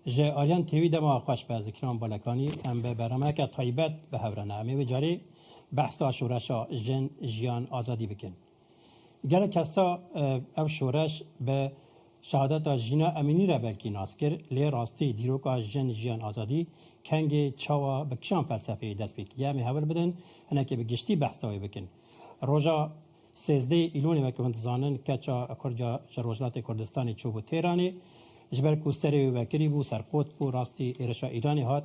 Ji aliyan TV dema xweş be Zikiran Balekanî. Em bi bernameeke taybet bi hev re ne. Em ê vê carî behsa şoreşa Jin, Jiyan, Azadî bikin. Gelek kesa ev şoreş bi şehadeta Jîna Emînî re belkî nas kir lê rastî dîroka Jin, Jiyan, Azadî kengê çawa bi kişan felsefeyê dest pê kiriye. Em ê hewl bidin hinekê bi giştî behsa wê bikin. Roja Sêzdehê Îlonê weke hûn dizanin keça Kurca ji Rojhilatê Kurdistanê çûbû Têranê. Ji ber ku serê wê vekirî bû, serqot bû, rastî êrişa Îranê hat.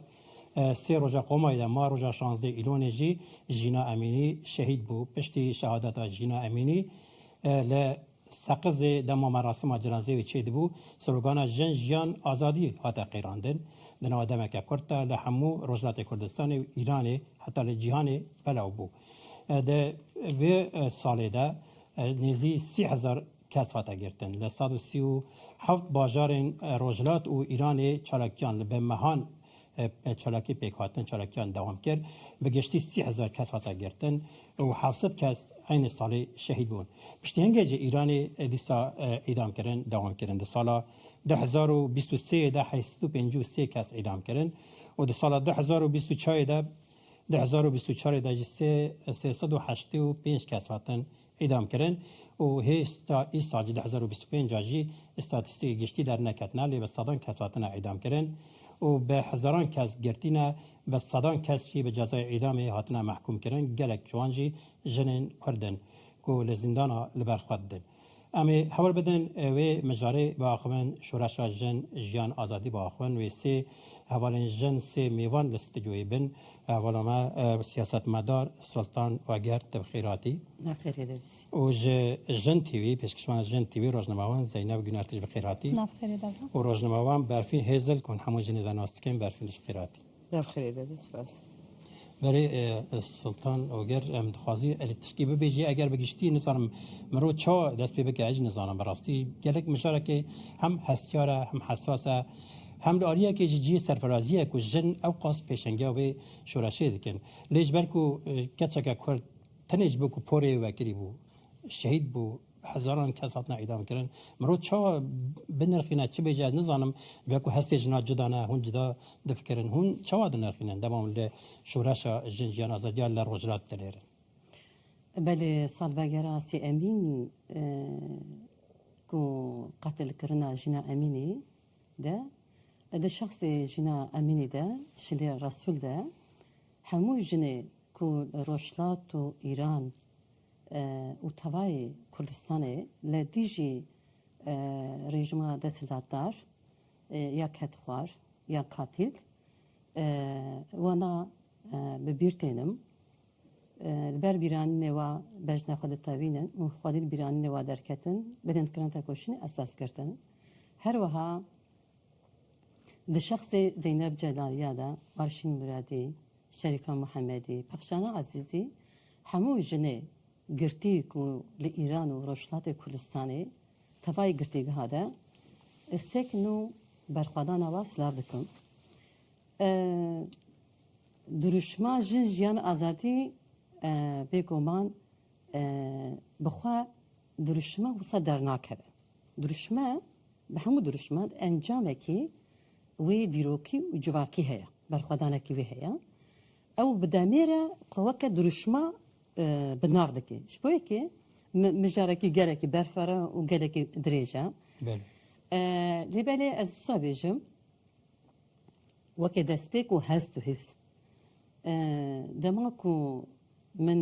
Sê roja qomayê de ma roja şazdehê Îlonê jî Jîna Emînî şehîd bû. Piştî şehadeta Jîna Emînî li Seqizê dema merasima cinazeyê wê çêdibû, slogana Jin, Jiyan, Azadî hate qîrandin. Di nava demeke kurt de li hemû Rojhilatê Kurdistanê û Îranê heta li cîhanê belav bû. Di vê salê de nêzî sî hezar kes hate girtin. Li sed û sî û heft bajarên rojhilat û Îranê çalakiyan li bi mehan çalakî pêk hatin, çalakiyan dewam kir. Bi giştî sî hezar kes hate girtin û heft sed kes eynî salê şehîd bûn. Piştîhengê jî Îranê dîsa îdamkirin dewam kirin. Di sala du hezar û bîst û sêyê de heşt sed û pêncî û sê kes îdam kirin û di sala du hezar û bîst û çarê de Di hezar û bîst û çarê de jî sê sê sed û heştê û pênc kes hatin îdamkirin û hêsta îsal jî di hezar û bîst û pênc a jî îstatîstîkê giştî derneketine lê bi sedan kes hatine îdamkirin û bi hezaran kes girtîne bi sedan kes jî bi cezayê îdamê hatine mehkûmkirin gelek ji wan jî jinên kurd in ku li zîndana li ber xwe didin. Em ê hewl bidin wê mijarê biaxivin, Şoreşa Jin, Jiyan, Azadî biaxivin. Wê sê hevalên jin, sê mêvan li stûdyoyê bin. Hevala me siyasetmedar Sultan Wegert te bi xêr hatî. Bi xêrê de bîsî. Û ji Jin TV, pêşkişvana Jin TV, rojnamevan Zeyneb Gûner te jî bi xêr hatî. Bi xêrê de be. Û rojnamevan Berfîn Hêzil ku hûn hemû jinê ve nas dikin, Berfîn te jî bi xêr hatî. Navxirê be be spas. Berê Sultan Oger em dixwazî erê tişkî bibêjî eger bi giştî nizanim miro ça dest pê bike ecî nizanim bi rastî gelek mijarekê hem hestiyar e hem hesas e hem li aliyekê jî cihê serfirazî ye ku jin ewqas pêşengiya wê şoreşê dikin lê ji ber ku keçeke kurd tenê ji bo ku porê wekirî bû şehîd bû Hezaran kes hatine îdamkirin. Mirov çawa binirxîne çi bêje ez nizanim. Weke ku hestê jinan cuda ne, hûn cuda difikirin. Hûn çawa dinirxînin dema li şoreşa jin jiyan azadiya li Rojhilat dilêrin? Belê salvegera Asî Emîn ku qetilkirina jina Emînî de di şexsê jina Emînî de Şilê Resûl de hemû jinê ku li Rojhilat û Îran û tevayê Kurdistanê li dijî rejîma desthilatdar ya kedxwar ya katîl wenda bi bîr tênim. Li ber bîranînê wa bejna xwe ditewînin û xwedî li bîranînê wa derketin, bidin kirin tekoşînê esas girtin. Her wiha. Di şexsê Zeyneb Celaliya de Arşîn Muradî, Şerîka Muhemedî, Pexşana Ezîzî hemû jinê girtî ku li Îran û Rojhilatê Kurdistanê tevayê girtîgeha de sek nû berxwedana wan silav dikim. Dirûşma Jin Jiyan Azadî bêguman bi xwe dirûşima wisa dernakeve. Dirûşme bi hemû dirûşman encamekî wê dîrokî û civakî heye, berxwedanekî wê heye. Ew bi demê re xwe weke dirûşma bi nav dike. Ji bo yekê mijarekî gelekî berfara û gelekî dirêj e. Lê belê ez wisa bêjim weke destpêk û hest û hîs. Dema ku min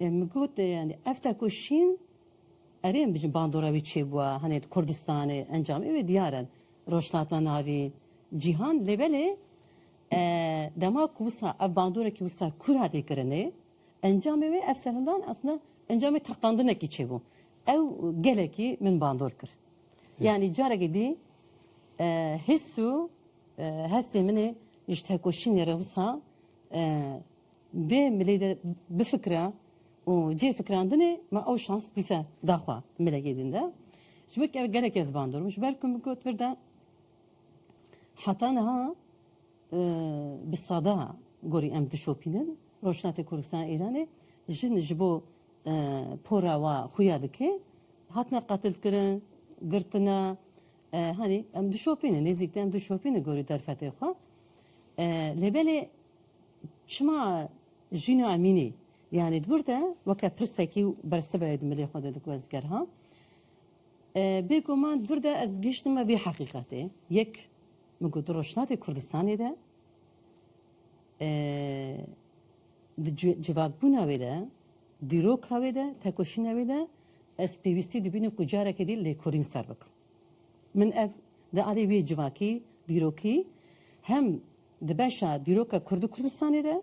Min got yanî ev tekoşîn erê em bijin bandora wî çêbûwa hanê di Kurdistanê encamê wê diyar in rojhilata navî cîhan lê belê dema ku wisa ev bandorekî wisa kûr hatî kirinê encamê wê ev serhindan esna encamê teqandinekî çêbû ew gelekî min bandor kir yanî carekî dî his û hestê min ê ji tekoşînê re wisa Dê milê de bifikire û cihê fikirandinê me ew şans dîse da xwe milekê din de. Ji ber ku ev gelek ez bandorm, ji ber ku min got vir de heta niha bi sada gorî em dişopînin. Rojhilatê Kurdistana Îranê jin ji bo pora wa xuya dike. Hatine qetilkirin, girtine, hanî em dişopînin, nêzîk de em dişopînin gorî derfetê xwe. Lê belê Şima jîna emînî yanî dibir de weke pirsekî û bersivayê di milê xwe de diku ez ger ha. Bêguman dibir de ez gihiştime vê heqîqetê. Yek min ku di Rojhilatê Kurdistanê de di civakbûna wê de, dîroka wê de, tekoşîna wê de ez pêwîstî dibînim ku careke dî lêkolîn ser bikim. Min ev di alî wî civakî, dîrokî hem di beşa dîroka Kurd û Kurdistanê de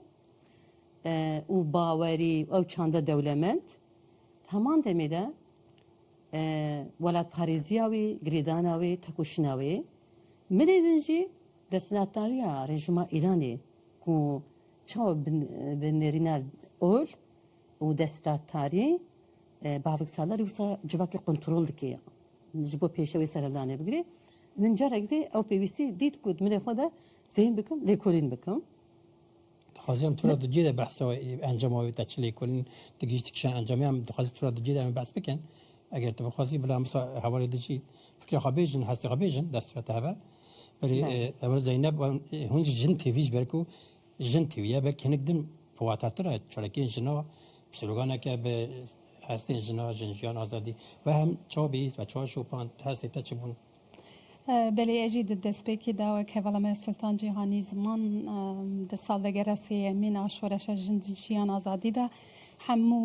û bawerî ew çanda dewlemend heman demê de welatparêziya wî, girêdana wî, tekoşîna wî milê din jî desthilatdariya rejîma Îranê ku çawa bi nêrîna ol û desthilatdarî bavik salar wisa civakê kontrol dike ya ji bo pêşe wê serevdanê bigire. Min carek dî ew pêwîstî dît ku dilê xwe de fêm bikim, lêkolîn bikim. Dixwaziyam tu re di cî de behsa wê encama wê te çi lêkolîn tu gihîştî kişan encamê em dixwazî tu re di cî de em ê behs bikin. Eger tu bixwazî bila em wisa hevalê di cî fikrê xwe bêjin, hestê xwe bêjin dest tu re tiheve. Belê heval Zeyneb hûn jî jin têvî ji ber ku Jin tîwiye belkî hinek din bi watatir e çolekên jina sloganeke bi hestên jina, jin, jiyan, azadî ve hem çawa bihîst ve çawa şopand hestê te çi bûn? Belê ez jî di destpêkê de wek hevala me Sultan Cîhanî Ziman di salvegera sêyemîn a şoreşa jin, jiyan, azadî de hemû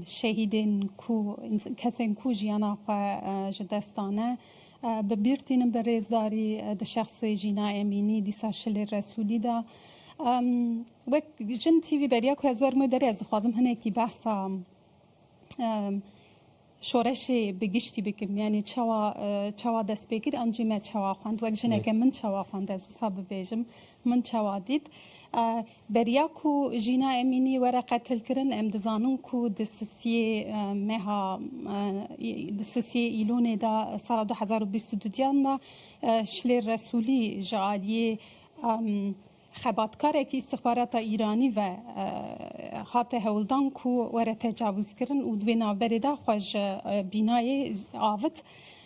şehîdên ku kesên ku jiyana xwe ji dest dane, Bi bîr tînim bi rêzdarî di şexsê Jîna Emînî, dîsa Şilê Resûlî de. Wek jin TV beriya ku ez werim wê derê ez dixwazim hinekî behsa şoreşê bi giştî bikim. Yanî çawa çawa dest pê kir an jî me çawa xwend. Wek jineke min çawa xwend ez wisa bibêjim. Min çawa dît. Beriya ku Jîna Emînî were qetilkirin em dizanin ku di sisiyê meha di sisiyê Îlonê de sala du hezar û bîst û du diyan de Şilêr Resûlî ji aliyê xebatkarekî îstixbarata Îranî ve hate hewldan ku were tecavûzkirin û di vê navberê de xwe ji bînayê avit.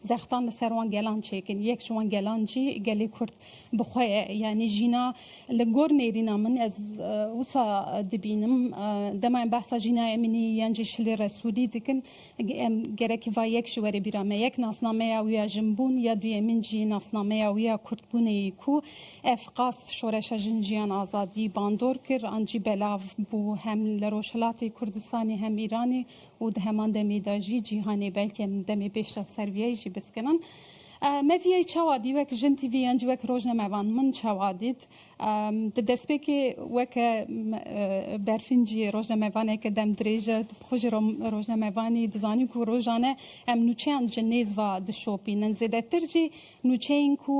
Zextan li ser wan gelan çêkin. Yek ji wan gelan jî gelê Kurd bi xwe ye. Yanî jîna li gor nêrîna min ez wisa dibînim. Dema em behsa Jîna Emînî yan jî Şilî Resûlî dikin em gerekî va yek ji were bîra me. Yek nasnameya wî ya jinbûn ya duyemîn jî nasnameya wî ya Kurdbûnê yî ku ev qas şoreşa jin jiyan azadî bandor kir an jî belav bû hem li Rojhilatê Kurdistanê hem Îranê û di heman demê de jî cîhanê belkê em demê pêş re ser viyayî jî biskirin. Me viyayî çawa dî wek jin tîvî yan jî wek rojnamevan min çawa dît di destpêkê weke berfîn jî rojnamevaneke dem dirêj e xwe ji rojnamevanî dizanî ku rojan e em nûçeyan ji nêz ve dişopînin zêdetir jî nûçeyên ku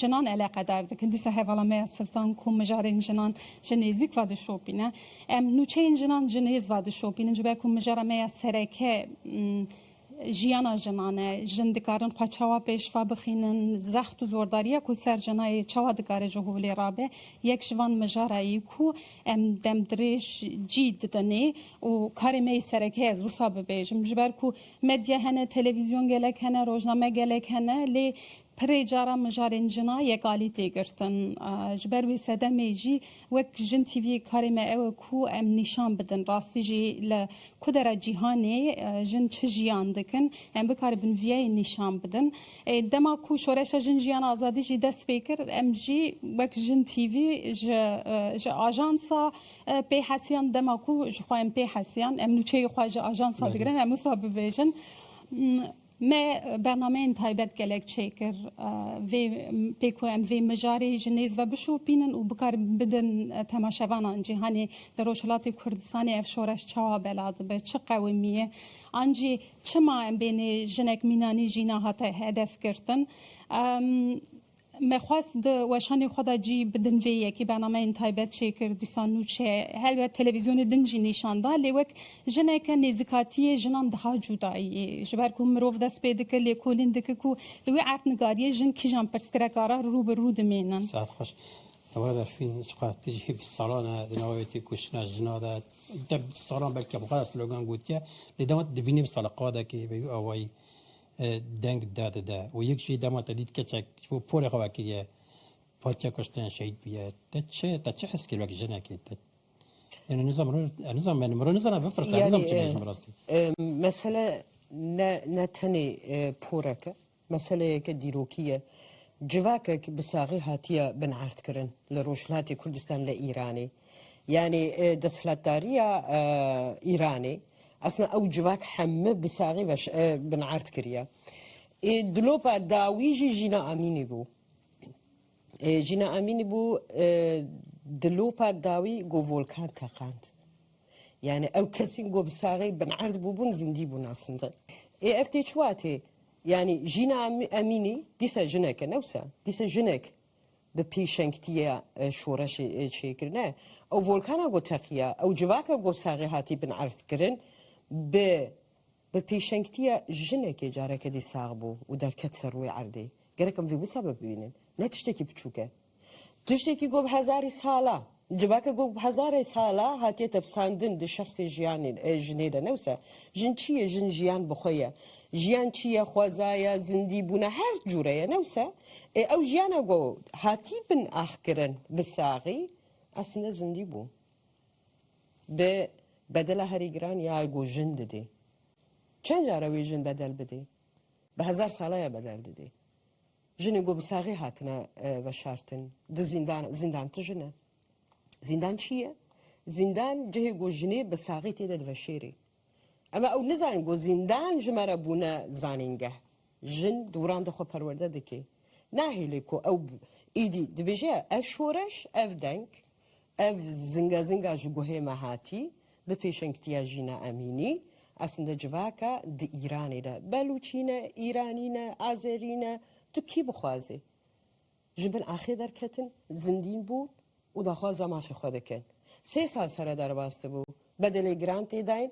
jinan eleqedar dikin dîsa hevala me ya Siltan ku mijarên jinan ji nêzîk ve dişopîne Em nûçeyên jinan ji nêz ve dişopînin ji ber ku mijara me ya sereke jiyana jinan e. Jin dikarin xwe çawa pêşva bixînin, zext û zordariya ku ser jinayê çawa dikare ji holê rabe. Yek ji van mijarayî ku em demdirêj cî didinê û karê me yê sereke ye ez wisa bibêjim. Ji ber ku medya hene, televîzyon gelek hene, rojname gelek hene lê Pirê caran mijarên jina yek alî tê girtin. Ji ber wê sedemê jî wek Jin TV karê me ew e ku em nîşan bidin rastî jî li ku dera cîhanê jin çi jiyan dikin, em bikaribin viyayê nîşan bidin. Ê dema ku Şoreşa Jin Jiyan Azadî jî dest pê kir em jî wek Jin TV ji ji ajansa pê hesiyan dema ku ji xwe em pê hesiyan em nûçeyê xwe ji ajansa digirin em wisa bibêjin. Me bernameyên taybet gelek çêkir vê pê ku em vê mijarê ji nêz ve bişopînin û bikar bidin temaşevanan cîhanê di Rojhilatê Kurdistanê ev şoreş çawa bela dibe, çi qewimî ye an jî çima em bênê jinek mînanî jî nehate hedefgirtin. Me xwest di weşanê xwe de cî bidin vê yekê bernameyên taybet çêkir, dîsa nû çê. Helbet televîzyonê din jî nîşan da lê wek jineke nêzikatiyê jinan diha cûdayî. Ji ber ku mirov dest pê dike lêkolîn dike ku li wê erdnigariyê jin kîjan pirsgireka re rû bi rû dimînin. Saet xweş. Ewre Berfîn çiqas tu jî bîst salan e di navê têkoşîna jinan de deh bîst salan belkî bi xwe re slogan gotiye lê dema tu dibînî bi saliqadekê bi vî awayî deng da dide û yek jî dema te dît keçek ji bo porê xwe vekiriye hatiye kuştin, şehîd bûye, te çi te çi hes kir wek jinekê? Te yani nizam nizam yani mirov nizana bipirse nizam çi bêjim rastî. Mesele ne ne tenê porek e, meseleyeke dîrokî ye. Civakek bi saxî hatiye binerdkirin li Rojhilatê Kurdistan li Îranê. Yanî desthilatdariya Îranê esna ew civak heme bi saxî ve binard kiriye. Ê dilopa dawî jî Jîna Amînî bû. Ê Jîna Amînî bû dilopa dawî got volkan teqand. Yani ew kesîn ku bi saxî binerd bûbûn zindî bûn aslinde. Ê ev tê çiwa tê? Yani Jîna Emînî dîsa jinek e newsa dîsa jinek Bi pêşengtiyê şoreşê çêkirine ew volkana ku teqiya, ew civaka ku saxê hatî bin erdkirin bi bi pêşengtiya jinekê careke dî sax bû û derket ser rûyê erdê. Gerek em vê wisa bibînin. Ne tiştekî piçûk e. Tiştekî ku bi hezarî sal a. Civaka ku hezarê sal a hatiye tepsandin di şexsê jiyanê jinê de ne wisa. Jin çi ye? Jin jiyan bi xwe ye. Jiyan çi ye? Xweza ye, zindî bûna her cûre ye ne wisa? Ê ew jiyana ku hatî bin axkirin bi saxî eslînde zindî bû. Bi bedela herî giran ya ku jin didê. Çend care wê jin bedel bidê? Bi hezar sala ya bedel didê. Jinên ku bi saxê hatine veşartin di zîndan, zîndan ti jin e? Zîndan çi ye? Zîndan cihê ku jinê bi saxê tê de diveşêrê. Em ew nizanin ku zîndan ji me re bûne zanîngeh. Jin dûran de xwe perwerde dike. Nahêle ku ew êdî dibêje ev şoreş, ev deng, Ev zinga zinga ji guhê me hatî, bi pêşengtiya Jîna Emînî. Esinde civaka di Îranê de Belûçî ne, Îranî ne, Azerî ne, tu kî bixwazê? Ji bin axê derketin, zindîn bûn û daxwaza mafê xwe dikin. Sê sal seredar bas dibû, bedelê giran tê dayîn.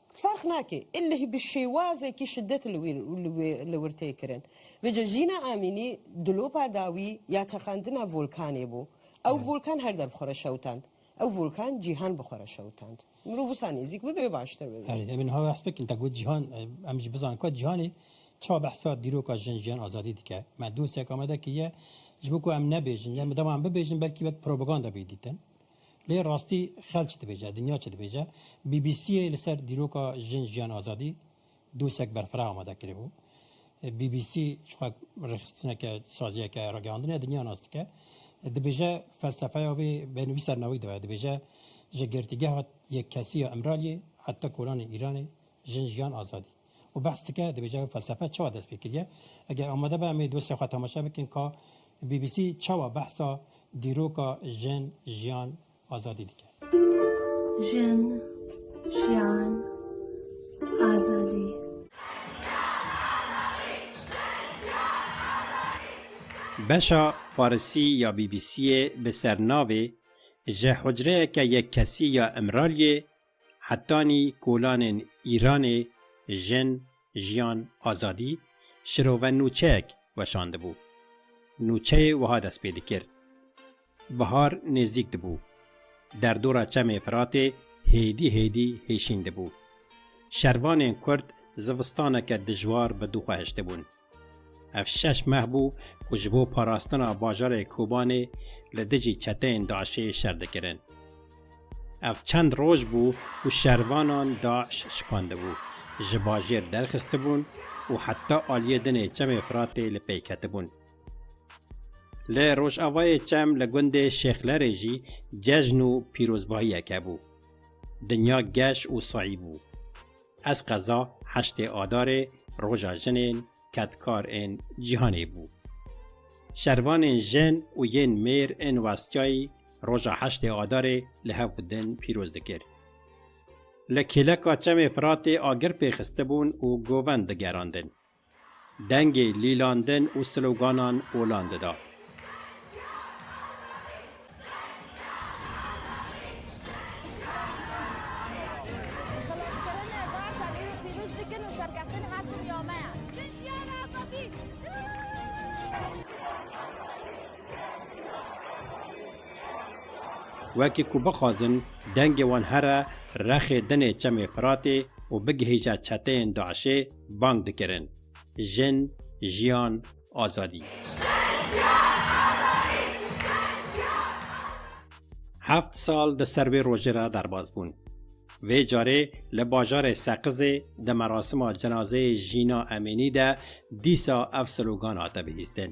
Ferq nake, elleh bi şêwazekî şidet li wî li wir tê kirin. Vêca Jîna Amînî dilopa dawî ya teqandina volkanê bû. Ew volkan her der bi xwe re şewitand. Ew volkan cîhan bi xwe re şewitand. Mirov wisa nêzîk bibe baştir bibe. Erê, em ê niha behs bikin, te got cîhan, em jî bizanin ku cîhanê çawa behsa dîroka jin, jiyan, azadî dike. Me dosek amade kiriye ji bo ku em nebêjin, ya bidewam bibêjin belkî wek propaganda bê dîtin. Lê rastî xel çi dibêje, dinya çi dibêje? BBC'ê li ser dîroka Jin, Jiyan, Azadî dosek berfireh amade kiribû. BBC çixwe rêxistineke saziyeke ragihandinê dinya nas dike. Dibêje felsefeya wê bên wî ser navî de. Dibêje ji girtîgeha yekkesî ya Îmraliyê heta kolanê Îranê, Jin, Jiyan, Azadî. Û behs dike, dibêje ev felsefe çawa dest pê kiriye. Eger amade be em ê dosyaya xwe temaşe bikin ka BBC çawa behsa dîroka jin, jiyan, azadî dike. Jin, jiyan, azadî. Beşa Farisî ya BBC'ê bi sernavê Ji hucreyeke yekkesî ya Imraliyê Hetanî kolanên Îranê Jin, Jiyan, Azadî şirove nûçeyek weşandibû. Nûçeyê wiha dest pê dikir, Bihar nêzdîk dibû. Derdora Çemê Firatê hêdî hêdî hêşîn dibû. Şervanên Kurd zivistaneke dijwar bi dû xwe hiştibûn. Ev şeş meh bû ku ji bo parastina bajarê Kobanê li dijî çeteyên DAIŞ'ê şer dikirin. Ev çend roj bû ku şervanan DAIŞ şikandibû, ji bajêr derxistibûn û heta aliyê dinê Çemê Firatê li pey ketibûn. Li rojavayê Çem li gundê Şêxlerê jî cejn û pîrozbahiyeke bû. Dinya geş û sayî bû. Ez qeza heştê Adarê Roja Jinên Kedkar ên Cîhanê bû. Şervanên jin û yên mêr ên westiyayî roja heştê Adarê li hev û din pîroz dikir. Li kêleka Çemê Firatê agir pê xistibûn û govend digerandin. Dengê lîlandin û sloganan olan dida. Wekî ku bixwazin dengê wan here rexê dinê Çemê Firatê û bigihîje çeteyên DAIŞ'ê, Bang dikirin Jin, Jiyan, Azadî. Heft sal di ser vê rojê re derbas bûn. Vê carê li bajarê Seqizê di merasima cenazeyê Jîna Emînî de dîsa ev slogan hate bihîstin.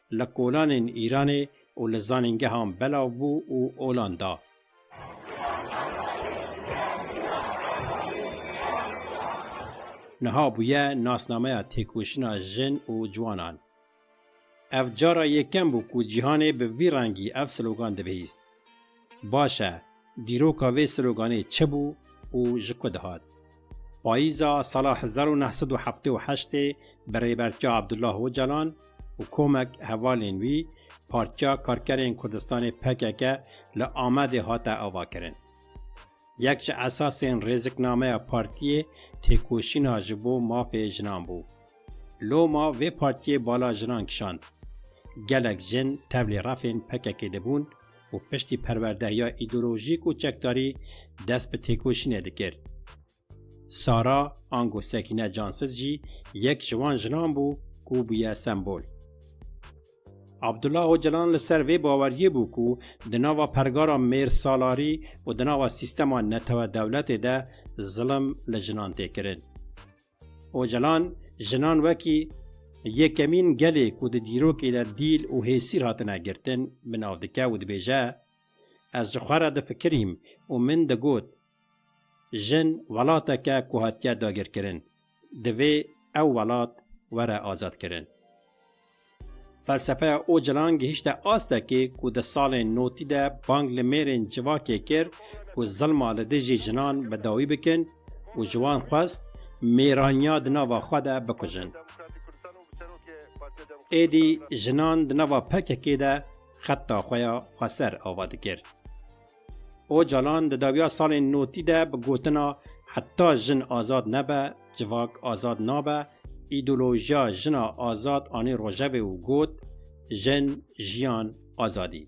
li kolanên Îranê û li zanîngehan belav bû û olan da. Niha bûye nasnameya têkoşîna jin û ciwanan. Ev cara yekem bû ku cîhanê bi vî rengî ev slogan dibihîst. Baş e, dîroka vê sloganê çi bû û ji ku dihat? Payîza sala hezar û neh sed û heftê û heştê bi Rêbertiya Abdullah Ocalan û komek hevalên wî Partiya Karkerên Kurdistanê, pkk, li Amedê hate avakirin. Yek ji esasên rêziknameya partiyê têkoşîna ji bo mafê jinan bû. Loma vê partiyê bala jinan kişand. Gelek jin tevlî refên PKK'ê de bûn û piştî perwerdehiya îdeolojîk û çekdarî dest bi têkoşînê dikir. Sara ango Sekîne Cansiz jî yek ji wan jinan bû ku bûye sembol. Abdullah Ocalan li ser vê baweriyê bû ku di nava pergara mêrsalarî û di nava sîstema netewe-dewletê de zilim li jinan tê kirin. Ocalan jinan wekî yekemîn gelê ku di dîrokê de dîl û hêsîr hatine girtin bi nav dike û dibêje, Ez ji xwe re difikirîm û min digot Jin welateke ku hatiye dagirkirin, divê ew welat were azadkirin. Felsefeya Ocalan gihîşte astekê ku di salên notî de bang li mêrên civakê kir ku zilma li dijî jinan bi dawî bikin û ji wan xwest mêraniya di nava xwe de bikujin. Êdî jinan di nava PKK'ê de xetta xwe ya xweser ava dikir. Ocalan di dawiya salên notî de bi gotina Heta jin azad nebe, civak azad nabe îdeolojiya jina azad anî rojevê û got, Jin, jiyan, azadî.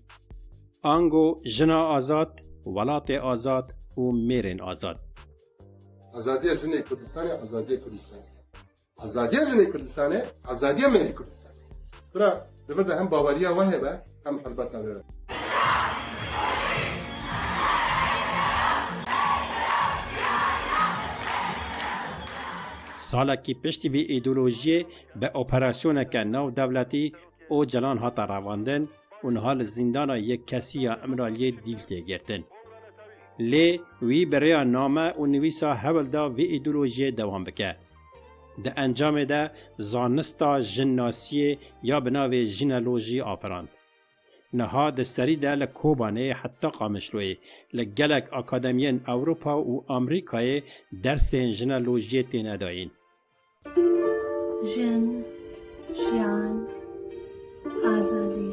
Ango jina azad, welatê azad û mêrên azad. Azadiya jinê Kurdistanê azadiya Kurdistanê ye. Azadiya jinê Kurdistane, azadiya me yê Kurdistane. Bira, di vir de hem baweriya we hebe, hem helbeta we. Salekî piştî vê îdeolojiyê bi operasyoneke navdewletî Ocalan hate revandin û niha li zîndana yek kesî ya Îmraliyê dîl tê girtin. Lê wî bi rêya name û nivîsa hewl da vê îdeolojiyê dewam bike. Di encamê de zanista jinnasiyê ya bi navê jineolojî afirand. Niha di serî de li Kobanê heta Qamişloyê li gelek akademiyên Ewropa û Amerîkayê dersên jineolojiyê têne dayîn. Jin, jiyan. Azadî!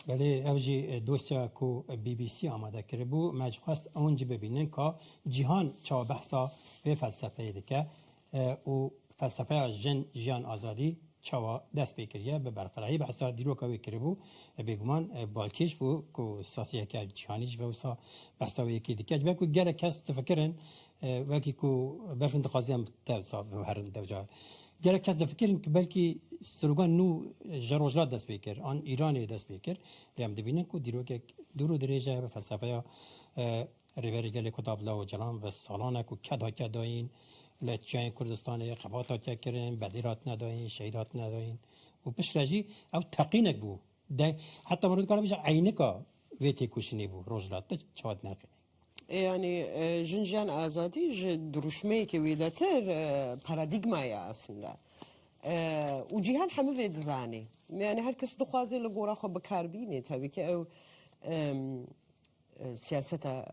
Belê ev jî dosya ku BBC amade kiribû. Me ji xwest ew jî bibînin ka cîhan çawa behsa vê felsefeyê dike. û felsefeya Jin, Jiyan, Azadî çawa dest pê kiriye bi berxwedayî behsa dîroka wê kiribû, bêguman balkêş bû ku saziyeke cîhanî ji wisa behsa wê yekê dike. Ji ber ku gelek kes difikirin wekî ku berfin dixwaziyan bi te wisa biherin dewca gelek kes difikirin ku belkî slogan nû ji rojhilat dest pê kir an Îranê dest pê kir lê em dibînin ku dîrokek dûr û dirêj e bi felsefeya Rêberê Gelê ku da bila Ocalan ve salan e ku ked hatiye dayîn, li çiyayên Kurdistanê xebat hatiye kirin, bedîl hatine dayîn, şehîd hatine dayîn û piştre jî ew teqînek bû. De heta miro dikare bêje eynika vê têkoşînê bû rojhilat de çawa dineqîne. Yanî jin jiyan azadî ji dirûşmeyekê wêdetir paradîgma ye aslinde. Û cîhan hemû vê dizane. Yanî her kes dixwaze li gora xwe bikar bîne tevî ke ew Siyaseta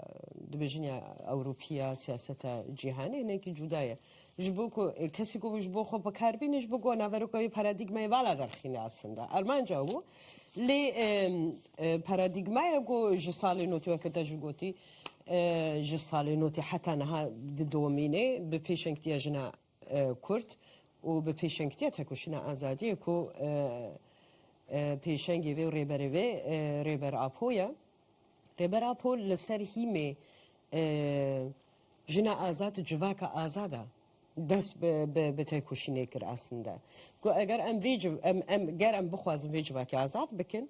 dibêjin ya Ewropî ya siyaseta cîhanê hinekî cuda ye. Ji bo ku kesî ku ji bo xwe bi kar bîne ji bo ku naveroka wê paradîgmayê vala derxîne aslında. Armanca û lê paradîgmaya ku ji salê notî weke te jî gotî ji salê notî heta niha didomîne bi pêşengtiya jina Kurd û bi pêşengtiya tekoşîna azadiyê ku pêşengê vê û rêberê vê Rêber Apo ye. Rêber Apo li ser hîmê jina azad, civaka azad e dest bi tekoşînê kir. Aslinde ku eger em vê em ger em bixwazin vê civakê azad bikin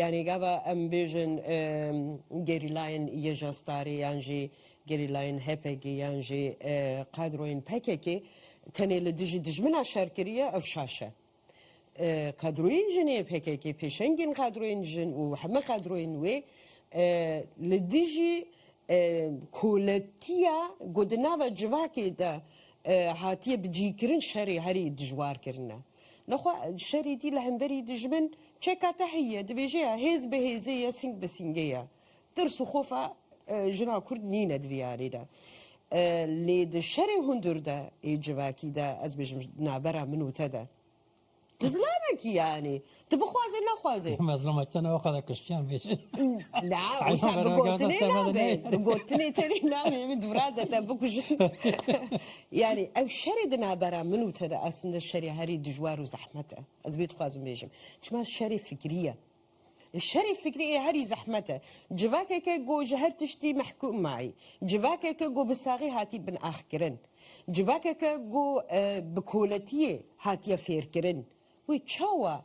Yanî gava em bêjin gerîlayên YJASTAR'ê yan jî gerîlayên HPG'ê yan jî qadroyên PKK'ê tenê li dijî dijmina şer kiriye ev şaş e. Qadroyên jin ê PKK'ê, pêşengên qadroyên jin û heme qadroyên wê li dijî koletiya ku di nava civakê de hatiye bicîkirin şerê herî dijwar kirine. Li xwe şerê dî li hemberî dijmin çeka te heye dibêje ya hêz bi hêzê ye sîng bi sîngê ye. Tirs û xofa jina Kurd nîne di vî yarê de. Lê di şerê hundir de ê civakî de ez bêjim di navbera min û te de tu zilamekî yanî tu bixwazê nexwazê. Mezlûma te ne o qada kiştiyan bêje. Na wisa bi gotinê nabe. Bi gotinê tenê namê min dûra de te bikujin. Yanî ew şerê di navbera min û te de aslinde şerê herî dijwar û zehmet e. Ez vê dixwazim bêjim. Çima şerê fikrî ye. Lê şerê fikrî ê herî zehmet e. Civakeke ku ji her tiştî mehkûm mayî. Civakeke ku bi saxî hatî binaxkirin. Civakeke ku bi koletiyê hatiye fêrkirin. Wê çawa.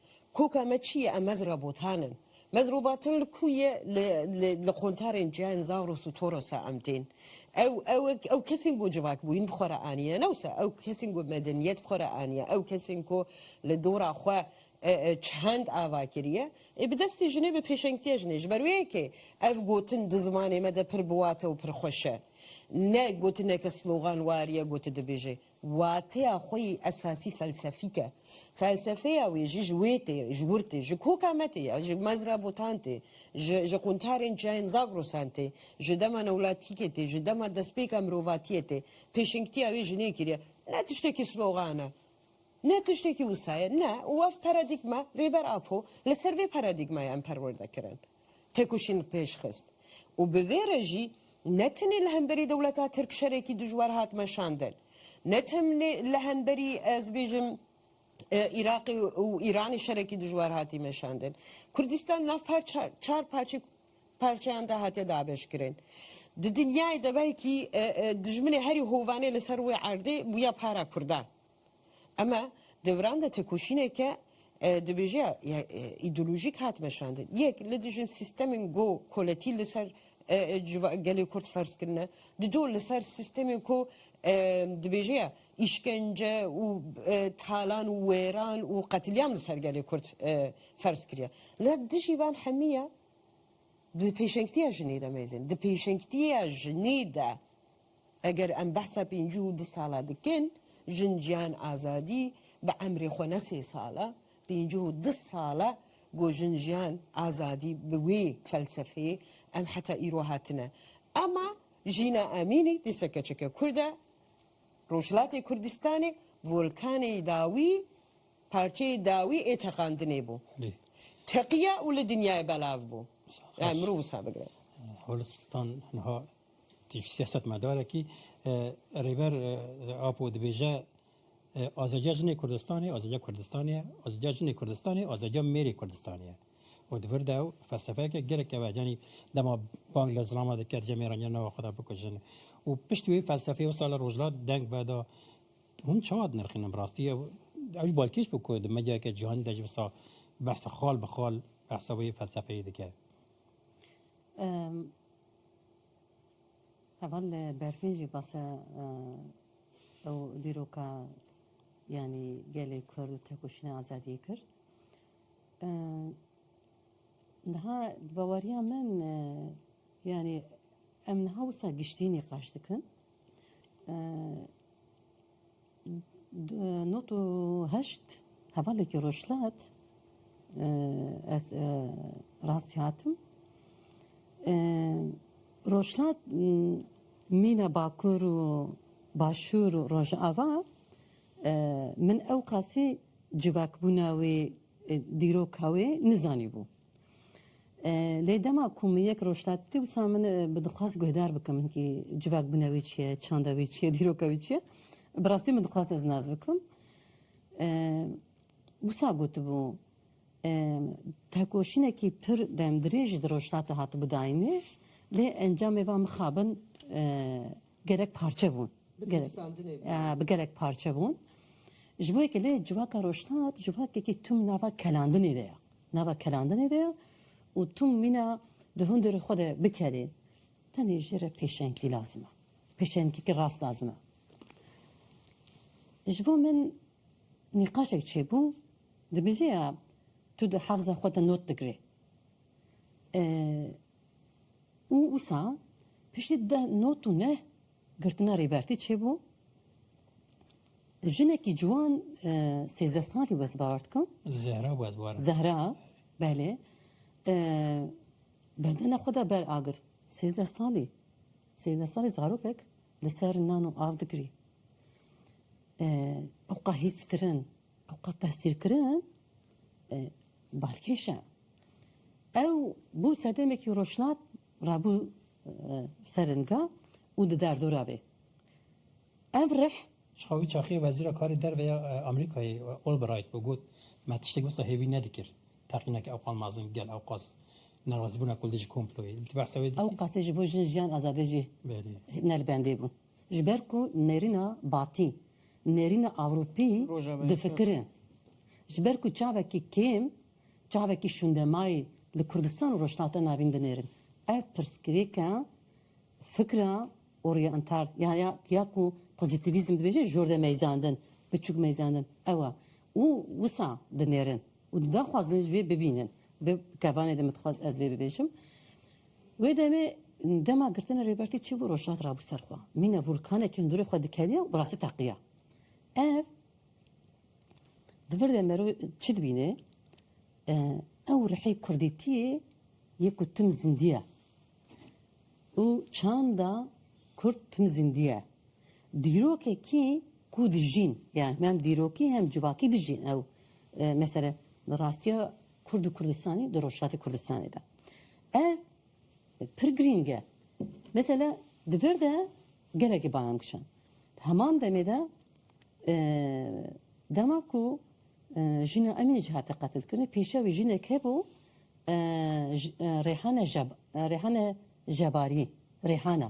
Koka me çi ye? Em mez rabotan in. Mez robatin li ku ye? Li qontarên Cihên Zagros û Toros e em tên. Ew ew ew kesên ku civakbûyîn bi xwe re aniye ne wisa ew kesên ku medeniyet bi xwe re aniye ew kesên ku li dora xwe çend ava kiriye ê bi destê jinê bi pêşengtiya jinê ji ber wê yekê ev gotin di zimanê me de pir bi wate û pir xweş e ne gotineke sloganwar ye ku tu dibêjê Wateya xwe yê esasî felsefîk e. Felsefeya wê jî ji wê tê, ji wir tê, ji koka me tê ya, ji mezra botan tê, ji ji qûntarên çiyayên Zagrosan tê, ji dema newlatîkê tê, ji dema destpêka mirovatiyê tê. Pêşengtiya wê ji nê kiriye. Ne tiştekî slogan e. Ne tiştekî wisa ye. Ne. Û ev paradîgma Rêber Apo li ser vê paradîgmayê em perwerde kirin. têkoşîn pêş xist û bi vê re jî ne tenê li hemberî dewleta Tirk şerekî dijwar hat meşandin, ne tenê li hemberî ez bêjim Îraqê û Îranê şerekî dijwar hatî meşandin. Kurdistan nav çar parçe parçeyan de hatiye dabeşkirin. Di dinyayê de belkî dijminê herî hovanê li ser wê erdê bûye para Kurdan. Eme devran de têkoşîneke dibêje îdeolojîk hat meşandin. Yek li dijin sîstemên go koletî li ser gelê Kurd ferz kirine. Di do li ser sîstemên ku dibêje îşkence û talan û wêran û qetilîam li ser gelê Kurd ferz kiriye. Li dijî van hemî ye di pêşengtiya jinê de mêzin. Di pêşengtiya jinê de Eger em behsa pêncî û du sala dikin, jin jiyan azadî bi emrê xwe ne sê sala, pêncî û du sala ku jin jiyan azadî bi wê felsefeyê em heta îro hatine. Ema Jîna Emînî dîsa keçeke kurd e, Rojhilatê Kurdistanê volkanê dawî, parçeyê dawî ê teqandinê bû. Teqiya û li dinyayê belav bû. Mirov wisa bigire. Holistîstan niha Tîf siyasetmedarekî Rêber Apo dibêje azadiya jinê Kurdistanê azadiya Kurdistanê ye, azadiya jinê Kurdistanê azadiya mêrê Kurdistanê ye. û di vir de ew felsefeyeke gelek ew e. Yanî dema bang li zilama dikir cem mêran yên nava xwe de bikujin û piştî wê felsefeyê wisa li rojhilat deng veda. Hûn çawa dinirxînin bi rastî ew ew jî balkêş bû ku di medyayeke cîhanî de jî wisa behsa xal bi xal behsa wê felsefeyê dike. Heval li berfên jî base ew dîroka yanî gelê Kurd û tekoşîna azadiyê kir. Niha bi baweriya min yanî em niha wisa giştî nîqaş dikin. Nod û heşt hevalekî rojhilat ez rastî hatim. Rojhilat mîna bakur û başûr û rojava min ewqasî civakbûna wê dîroka wê nizanîbû. Lê dema ku min yek roj hat dîwsa min bi dixwest guhdar bikim min kî civak bûne wî çi ye, çanda wî çi ye, dîroka wî çi ye. Bi rastî min dixwest ez nas bikim. Wisa gotibû tekoşînekî pir demdirêj di rojhilatê hatibû dayînê lê encamê van mixabin gerek parçe bûn. Bi gerek parçe bûn. Ji bo yekê lê civaka rojhilat civakekî tûm nava kelandinê de ye. Nava kerandinê de ye û tu mîna di hundirê xwe de bikerî tenê jê re pêşengî lazim e. Pêşengîkî rast lazim e. Ji bo min nîqaşek çêbû dibêje ya tu di hefza xwe de not digirê û wisa piştî deh not û neh Girtina Rêbertî çê bû. Jinekî ciwan sêzdeh salî west bawer dikim. Zehra west bawer. Zehra, belê. Bedena xwe de ber agir. Sêzdeh salî. Sêzdeh salî zarokek li ser nan û av digirî. Oqa hîskirin, Ew qat tehsîrkirin balkêş e. Ew bû sedemekî rojhilat re bû seringa û di derdora bê. Ev rih. Ji xwe wî çaxiyê wezîra karê derve ya Amerîkayê Albright bû got, Me tiştek wisa hêvî nedikir. Teqîneke ew qal mezin gel ew qas nerazîbûna kulî ji komployê. Di behsa wê dikî. Ew qasê ji bo jin jiyan azadê jî ne li bendê bû. Ji ber ku nêrîna Batî, nêrîna Ewropî difikire. Ji ber ku çavekî kêm, çavekî şûndemayî li Kurdistan û Rojhilata Navîn dinêrin. Ev pirsgirêka fikra orîyental ya ya ya ku pozîtîvîzm dibêje jorde meyzandin, biçûk meyzandin ew e û wisa dinêrin û daxwazin ji vê bibînin. Bi kevanê de min dixwest ez vê bibêjim. Wê demê dema girtina Rêbertî çi bû rojhilat rabû ser xwe. Mîna vûlkanekî hundirê xwe dikeniya û bi rastî teqiya. Ev di vir de merov çi dibîne? Ew rihê kurdîtiyê yê ku tim zindî ye û çanda kurd tim zindî ye. Dîrokekî ku dijîn, yan hem dîrokî hem civakî dijîn ew. Mesele rastiya Kurd û Kurdistanî di Rojhilatê Kurdistanê de. Ev pir girîng e. Mesela di vir de gelekî banan kişand. Di heman demê de dema ku jîna Emînê cî hate qetilkirinê pêşiya wî jinek hebû Rêhane Rêhane Jebarî Rêhana.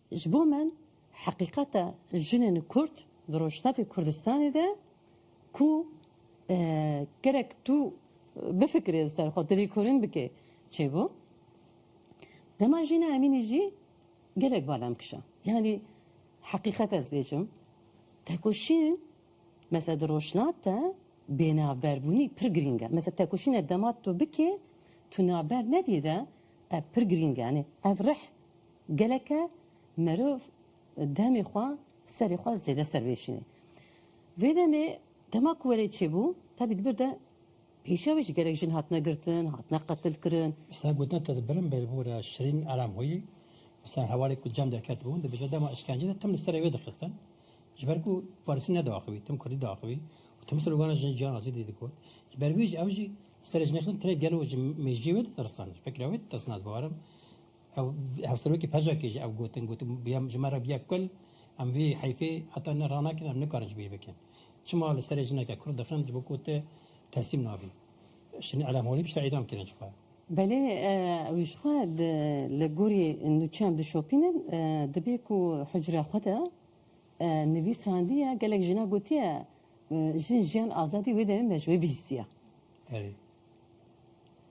Ji bo min heqîqeta jinên kurd di rojhilata Kurdistanê de ku gerek tu bifikirî li ser xwe, tu lêkolîn bikî çêbû. Dema Jîna Emînî jî gelek bala min kişand. Yanî heqîqet ez bêjim tekoşîn mesela di rojhilat de bênavberbûnî pir girîng e. Mesela tekoşîne dema tu bikî tu navber nedî de ev pir girîng e. Yanî ev rih Geleke merov demê xwe serê xwe zêde ser vêşînê. Vê demê dema ku welê çêbû tevî di vir de pêşiya wê jî gelek jin hatine girtin, hatine qetilkirin. Mesela gotina te di birin bê li bo re Şirîn Elamhoyî mesela hevalê ku cem derket bû dibêje dema îşkence de tim li serê wê dixistin ji ber ku farisî nediaxivî tim kurdî diaxivî û tim slogana jin jiyan azîdî digot. Ji ber wê jî ew jî li serê jinê xistin tenê gelo ji mêjiyê wê ditirsin, ji fikra wê ditirsin ez bawer im Ew hevserokê pejekê jî ev gotin, got, Bûye ji me re bûye kul, em vê heyfê heta ne ranekin em nikarin ji bo wê bikin. Çima li serê jineke kurd dixin ji bo ku tu teslîm nabî. Şinî Elem Holî piştre îdam kirin ji xwe. Belê ew ji xwe li gorî nûçeyan dişopînin, dibê ku hucreya xwe de nivîsandiye gelek jina gotiye jin jiyan azadî wê demê me ji wê bihîstiye. Erê.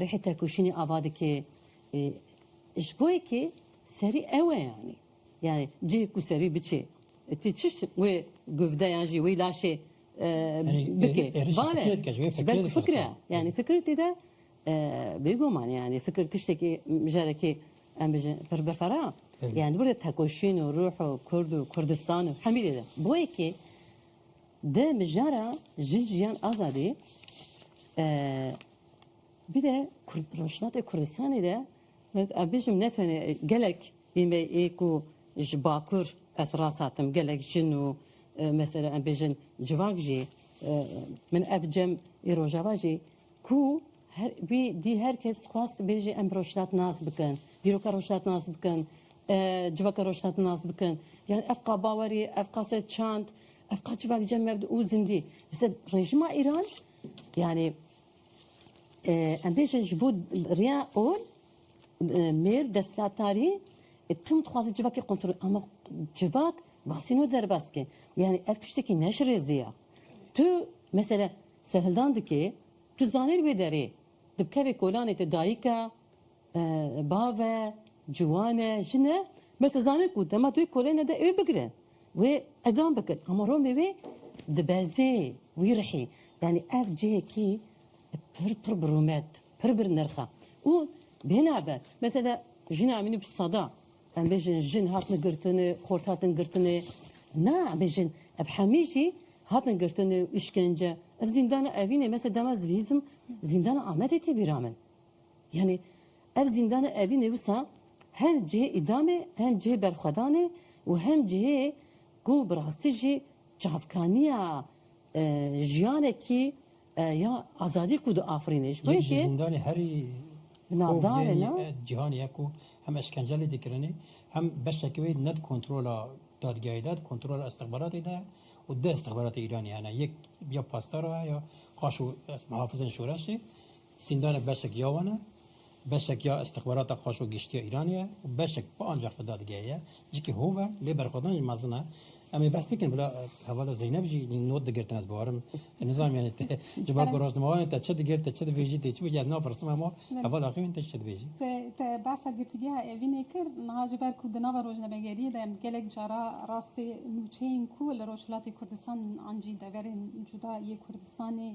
Rihê tekoşînê ava dike ji bo yekê serî ew e yanî. Yanî cihê ku serî biçê tu çiş wê guvde yan jî wê laşê bike. Bale ji ber ku fikir e. Yanî fikir tê de bêguman yanî fikir tiştekî carekê em bijin pir bifera. Yanî li vir de tekoşîn û ruh û kurd û kurdistan û hemî dê de bo yekê Di mijara Jin Jiyan Azadî bir de rojhilatê Kurdistanê de ez bêjim ne tenê gelek ê me ê ku ji bakur ez rast hatim gelek jin û mesela em bêjin civak jî min ev cem ê rojava jî ku Wî dî her kes xwest dibêje em bi rojhilat nas bikin, dîroka rojhilat nas bikin, civaka rojhilat nas bikin. Yani ev ka bawerî, ev ka se çand, ev ka civak cem mevd û zindî. Mesela rejima Îran yani em bêjin ji bo riya ol mêr desthilatdarî tim dixwaze civakê kontrol ama civak basîno derbas ke. Yani ev tiştekî neşirêzî ya. Tu mesela serhildan dikê Tu zanîn wê derê di kevê kolanê te dayik e, bav e, ciwan e, jin e, bes tu zanîn ku dema tu wê kolê nede wê bigire, wê qedam bikin. Ama Romê wê dibezê wî rihî. Yanî ev cihekî pir pir bi rûmet, pir bir nirx e. Û binabe, mesela jina min û bi sada. Em bêjin jin hatin girtin û xort hatin girtin û na em bêjin ev hemî jî hatin girtin û îşkence. Ev zîndana Evînê me se dema ez bihîzim zîndana Amedê tê bîra min. Yanî ev zîndana Evînê wisa hem cihê îdamê hem cihê berxwedanê û hem cihê ku bi rastî jî çavkaniya jiyanekî, Ya azadî ku diafirîne ji bo yekê. Yek ji zîndanê herî hovdeyî ya cîhanê ye ku hem eşkence lê dikirinê hem beşeke wê ne di kontrola dadgehê de di kontrola îstixbaratê de ye û du îstixbaratê Îranê hene yek ya Pastara ye ya paş û Mihafizên Şoreşê. Zîndanek beşek ya wan e. Beşek ya îstixbarata xweş û giştî ya Îranê ye û beşek bi ancax li dadgehê ye. Cikî hov e lê berxwedan jî mezin e. Em ê behs bikin bila hevala Zeynep jî hîn not digirtin ez bawerim nizanîm yanî te ji ber ku rojnamevanê te çi digir te çi dibêjî tê çi bêjî ez napirsim hema hevala xwe yên te jî çi dibêjî. Te behsa girtîgeha Evînê kir niha ji ber ku di nava rojnamegeriyê de gelek cara rastê nûçeyên ku li Rojhilatê Kurdistan an jî deverên cuda yê Kurdistanê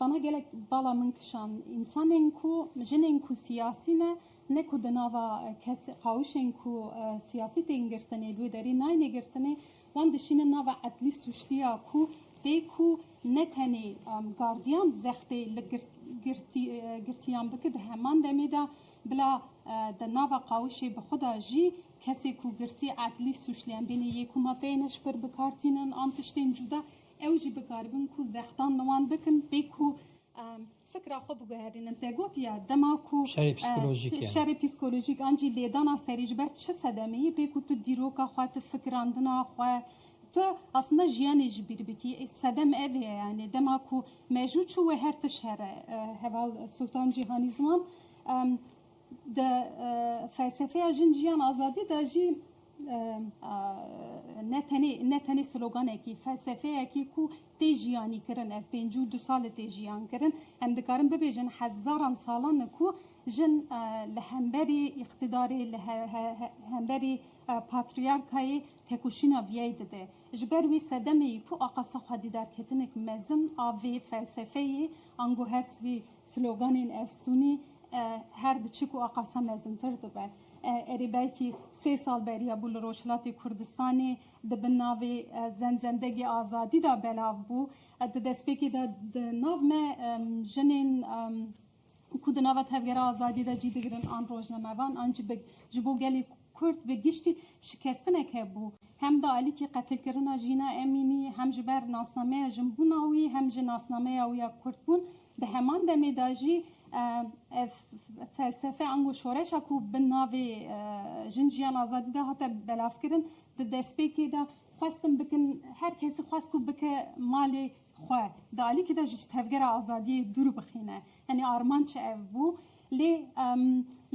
Vana gelek bala min kişand. Însanên ku, jinên ku siyasî ne, ne ku di nava kes qawişên ku siyasî tên girtinê li wê derê nayêne girtinê, wan dişînin nava edlî sûctiya ku tê ku ne tenê gardiyan di zextê li girtiyan bike di heman demê de bila di nava qawişê bi xwe de jî kesê ku girtî edlî sûclî em bên ê yê ku madeyên hişbir bikar tînin an tiştên cûda Ew jî bikaribin ku zextan li wan bikin bê ku fikra xwe biguherînin. Te gotiye dema ku şerê psîkolojîk an jî lêdana serî ji ber çi sedemê ye bê ku tu dîroka xwe, tu fikirandina xwe, tu aslinde jiyanê ji bîr bikî. Sedem ev ye yanî dema ku mejû çû wê her tişt here. Heval Sultan Cîhanî Ziman di felsefeya jin, jiyan, azadî de jî ne tenê sloganekî, felsefeyekî ku tê jiyanîkirin, ev pêncî û du sal e tê jiyankirin. Em dikarin bibêjin hezaran salan e ku jin li hemberî îqtîdarê, li hemberî patrîyarkayê tekoşîna viyayî dide. Ji ber wî sedemê ku axa se xwedî derketinek mezin a vê felsefeyê ango her sloganên efsûnî her diçe ku axa se mezintir dibe. Erê belkî sê sal beriya bû li Rojhilatê Kurdistanê di bin navê Zenzendegê Azadî de belav bû. Di destpêkê de di nav me jinên ku di nava Tevgera Azadî de cî digirin an rojnamevan an jî ji bo gelê Kurd bi giştî şikestinek hebû. Hem di alîkî qetilkirina Jîna Emînî hem ji ber nasnameya jinbûna wî hem ji nasnameya wî ya Kurdbûn, Di heman demê de jî ev felsefe ango şoreşa ku bi navê Jin Jiyan Azadî de hate belavkirin, di destpêkê de xwestin bikin her kesî xwest ku bike malê xwe, di alîkî de jî ji tevgera azadiyê dûr bixîne. Yanî armanc ev bû. Lê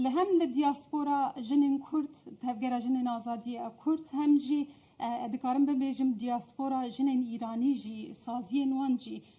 li hem li diaspora jinên Kurd, tevgera jinên azadiyê ya Kurd hem jî dikarim bibêjim diaspora jinên Îranî jî saziyên wan jî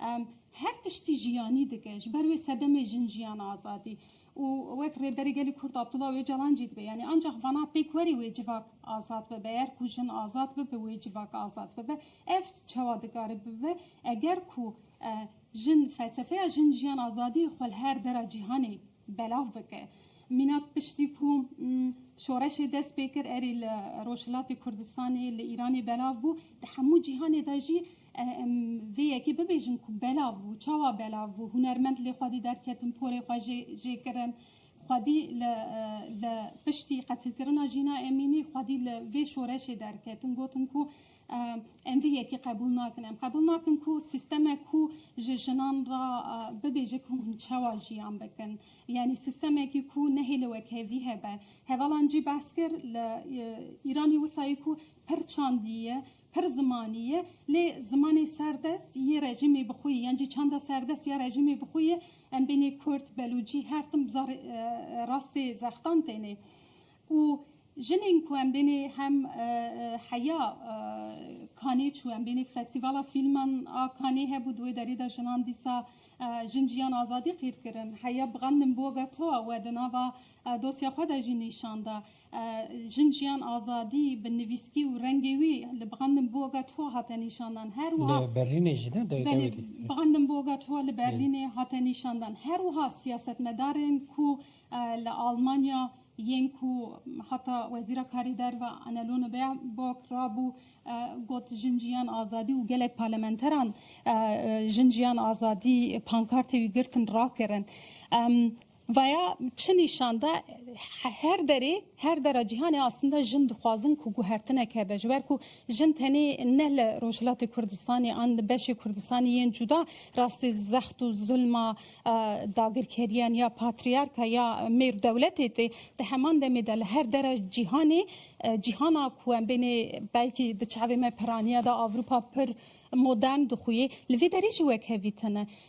Em her tiştî ji yanî dikin ji ber wê sedemê jin jiyan azadî û wek Rêberê Gelê Kurd Abdullah Ocalan jî dibe yanî ancax vana pêk werê wê civak azad bibe yer ku jin azad bibe wê civak azad bibe ev çawa dikare bibe eger ku jin felsefeya jin jiyan azadî xwe li her dera cîhanê belav bike mîna piştî ku şoreşê dest pê kir erê li Rojhilatê Kurdistanê li Îranê belav bû di hemû cîhanê de jî Em vê yekê bibêjin ku belav bû. Çawa belav bû? Hunermend li xwedî derketin, porê xwe jê kirin. Xwedî li piştî qetilkirina Jîna Emînî xwedî li vê şoreşê derketin. Gotin ku em vê yekê qebûl nakin. Em qebûl nakin ku sîstemek ku ji jinan re bibêje ku hûn çawa jiyan bikin. Yanî sîstemekî ku nehêle wekhevî hebe. Hevalan jî behs kir li Îranî wisayî ku pir çandî ye Pir zimanî ye, lê zimanê serdest yê rejîmê bi xwe yê, yan jî çanda serdest ya rejîmê bi xwe yê, em bênê kurd, belûcî, her tim bi zarê rastê zextan tênê. Û jinên ku em bênê hem heya Kanê çû, em bênê festîvala fîlman a Kanê hebû, di wê derê de jinan dîsa Jin Jiyan Azadî qîr kirin. Heya Bğandim Boga Toa we di nava dosya xwe de jî nîşan da. Jin, jiyan, azadî bi nivîskî û rengê wî li Brandenburga Tor hate nîşandan. Her wiha Li Berlînê jî ne? Dewî Belê, dewî dî. Brandenburga Tor li Berlînê hate nîşandan. Her wiha siyasetmedarên ku li Almanya yên ku heta Wezîra Karê Derve Annalone Baerbock rabû got Jin, jiyan, azadî û gelek parlamenteran Jin, jiyan, azadî pankartê wî girtin rakirin. Vaya çi nîşan da, her derê, her dera cîhanê aslında jin dixwazin ku guhertinek hebe. Ji ber ku jin tenê ne li Rojhilatê Kurdistanê an li beşê Kurdistanê yên cuda rastî zext û zulma dagirkeriyan ya patrîyarka ya mêr dewletê tê, di heman demê de li her dera cîhanê, cîhana ku em bênê belkî di çavê me piranîya da Ewropa pir modern dixuyê, li vê derê jî wek hevî tune.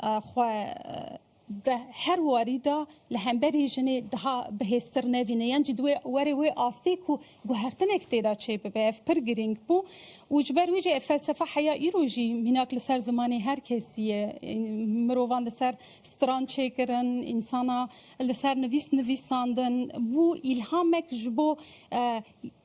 xwe di her warî de li hemberî jinê daha bihêztir nevîne yan jî divê were wê astê ku guhertinek tê de çê bibe. Ev pir girîng bû û ji ber wê jî ev felsefa heya îro jî mînak li ser zimanê her kesî ye. Mirovan li ser stran çê kirin, însana li ser nivîs nivîsandin bû îlhamek ji bo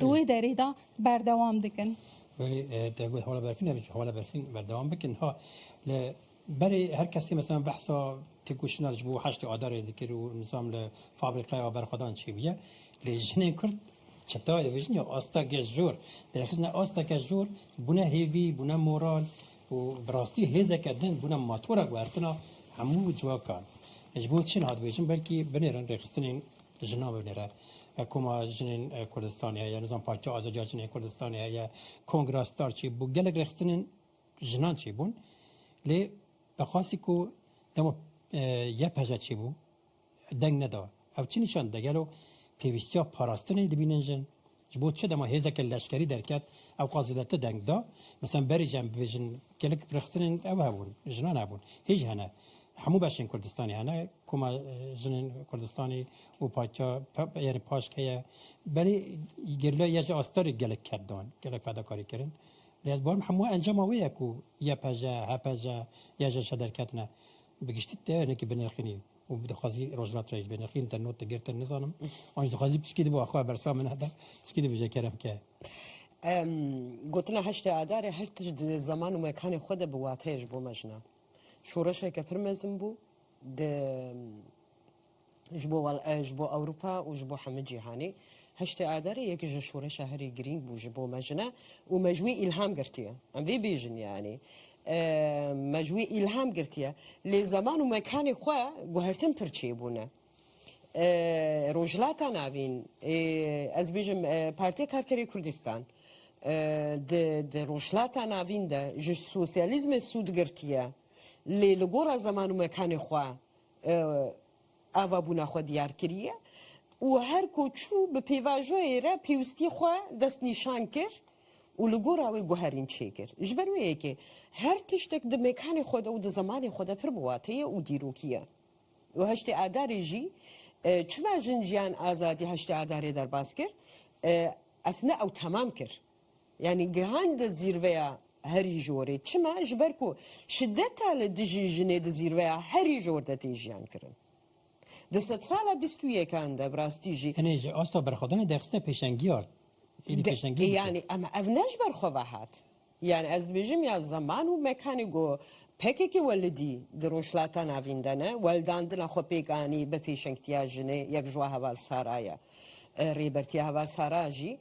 di wê derê de berdewam dikin. Berê te got hevala berfîn nebe çi hevala berfîn berdewam bikin ha li berê her kesê mesela behsa têkoşîna ji bo heştê adarê dikir û nizam li fabrîqeya berxwedan çêbûye lê jinên kurd çetayê vejin ya asta geş jor derxistina asta geş jor bûne hêvî bûne moral û bi rastî hêzeke din bûne matora guhertina hemû ciwakan ji bo çi nihat vejin belkî binêrin rêxistinên Jinan binêre. Koma Jinên Kurdistanê heye, nizam Parça Azadiya Jinên Kurdistanê heye, Kongra Star çêbû, gelek rêxistinên jinan çêbûn. Lê bi qasî ku dema YPJ çêbû deng neda. Ew çi nîşan dide? Gelo pêwîstiya parastinê dibînin jin? Ji bo çi dema hêzeke leşkerî derket ew qas zêde ti deng da. Misan berî jî em bibêjin gelek pirxistinên ew hebûn, jinan hebûn, hêj hene. Hemû beşên Kurdistanê hene, koma jinên Kurdistanê û parça yanî paşk heye. Belê gerîla ya ji astarê gelek ked dan, gelek fedakarî kirin. Lê ez bawer dikim hemû encama wê ye ku YPJ, HPJ, YJŞ derketine. Bi giştî te hinekî binirxînî û dixwazî rojhilat re jî binirxînî, te not digirtin nizanim. Wan jî dixwazî piştgî dibû axwe bersa min heta piştgî dibije kerem ke. Gotina heştê Adarê her tişt di zeman û mekanê xwe de bi wateyê ji bo me jina. Şoreşeke pir mezin bû. Di. Ji bo ji bo Ewropa û ji bo hemû cîhanê. Heştê Adarê yek ji şoreşa herî girîng bû ji bo me jine û me ji wî îlham girtiye. Em vê bêjin yanî me ji wî îlham girtiye. Lê zeman û mekanê xwe guhertin pir çêbûne. Rojhilata Navîn ê ez bêjim Partiya Karkerê Kurdistan di di Rojhilata Navîn de ji sosyalîzmê sûd girtiye. Lê li gora zeman û mekanê xwe avabûna xwe diyar kiriye û her ku çû bi pêvajoyê re pêwistî xwe destnîşan kir û li gora wê guherîn çêkir. Ji ber wê yekê her tiştek di mêkanê xwe de û di zemanê xwe de pir bi wate ye û dîrokî ye. Û heştê adarê jî çima jin jiyan azadî heştê adarê derbas kir? Esna ew temam kir. Yanî gihan di zîrveya herî jorê. Çima? Ji ber ku şideta li dijî jinê di zîrveya herî jor de tê jiyankirin. Di sedsala bîst û yekan de bi rastî jî. Tenê ji asta berxwedana derxiste pêşengî ard. Êdî pêşengî dike. Yanî em ev ne ji ber xwe ve hat. Yanî ez dibêjim ya zeman û mekanê ku pkk welidî di Rojhilata Navîn de ne, weldandina xwe pêk anî bi pêşengtiya jinê yek ji wan heval Sara ye. Rêbertiya heval Sara jî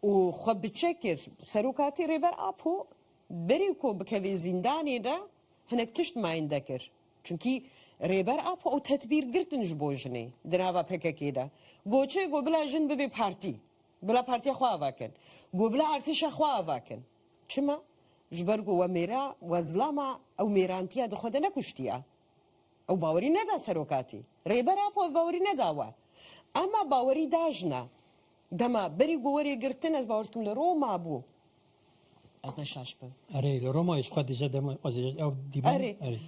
û xwe bi çek kir. Serokatî Rêber Apo berî ku bikeve zîndanê de hinek tişt meyinde kir. Çimkî Rêber Apo ew tedbîr girtin ji bo jinê di nava pkk de got çi got bila jin bibe partî, bila partiya xwe ava kin, got bila artêşa xwe ava kin. Çima? Ji ber ku we mêra, we zilama ew mêrantiya di xwe de nekuştiya. Ew bawerî neda serokatî. Rêber Apo ev bawerî neda we. Ema bawerî da jina. Dema berî ku werê girtin ez bawer dikim li Roma bû. Ez ne şaş bim. Erê li Roma ji xwe dije dema ez ê ew dîbin. Erê. Erê.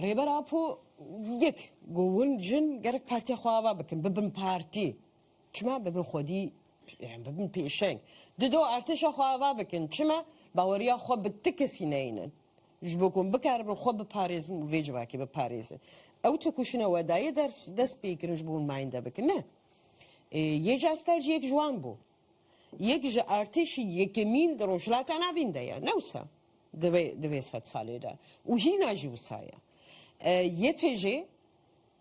Rêber Apo yek ku hûn jin gerek partiya xwe ava bikin. Bibin partî. Çima bibin xwedî yani bibin pêşeng. Dido artêşa xwe ava bikin. Çima baweriya xwe bi ti kesî neynin. Ji bo ku bikaribin xwe biparêzin û vê civakê biparêzin. Ew têkoşîna wedayê der dest pê kirin ji bo hûn meyinde bikin. Ne. Yê ca ster jî yek ji wan bû. Yek ji artêşî yekemîn di Rojhilata Navîn de ye. Ne wisa. Di vê di vê sed salê de. Û hîna jî wisa ye. Yê pê jê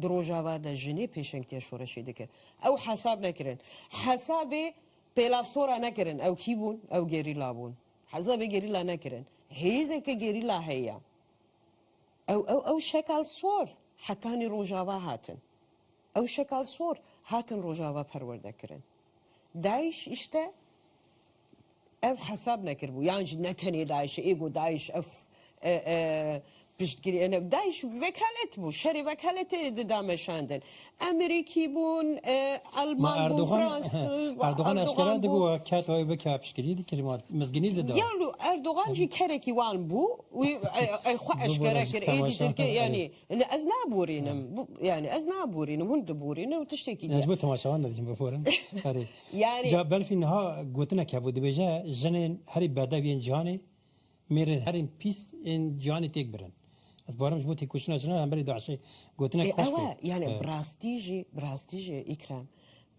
Di Rojava de jinê pêşengtiya şoreşê dikir. Ew hesab nekirin. Hesabê pêlasora nekirin. Ew kî bûn? Ew gerîla bûn. Hesabê gerîla nekirin. Hêzeke gerîla heye. Ew ew ew şekal sor hetanî Rojava hatin. Ew şekal sor hatin Rojava perwerde kirin. DAIŞ îşte. Ev hesab nekiribû yan jî ne tenê DAIŞ'ê ê got DAIŞ ev piştgirî ne DAIŞ vekalet bû şerê vekaletê dida meşandin Emerîkî bûn Elman bûn Frans bûn Erdogan eşkera digot ew ket wê bike piştgirî dikir wan mizginî dida ya lû Erdogan jî kerekî wan bû wî xwe eşkera kir êdî Tirkiye yanî ez naborînim yanî ez naborînim hûn diborînin û tiştekî diya ez bo temaşevan de dijim biborin erê Ca Belfî niha gotinek hebû, dibêje, Jinên herî bedew yên cîhanê mêrên herîn pîs ên cîhanê têk birin. Ez barim ji bo têkoşîna jinan hemberî DAIŞ'ê gotinek xweş be. Ew e, yanî bi rastî jî, bi rastî jî Îkrem,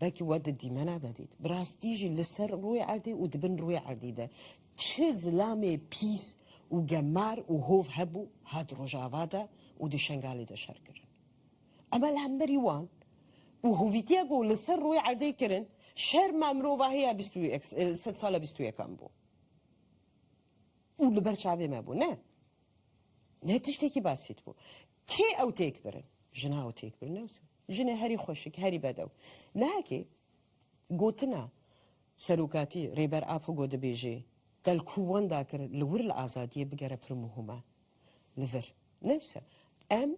belkî we di dîmena de dît, bi rastî jî li ser rûyê erdê û di bin rûyê erdî de çi zilamê pîs û gemar û hov hebû, hat Rojava de û di Şengalê de şer kirin. Ema li hemberî wan û hovîtiya ku li ser rûyê erdê kirin, şerma mirova hêya bîst û yek sed sala bîst û yekan bû û li ber çavê me bû. Ne, ne tiştekî basît bû. Kê ew têk birin? Jina ew têk birin newsa. Jinê herî xweşik, herî bedew. Nahekê gotina serokatî Rêber Apo ku dibêjê del ku wan dakir li wir li azadiyê bigere pir muhim e li vir. Newsa em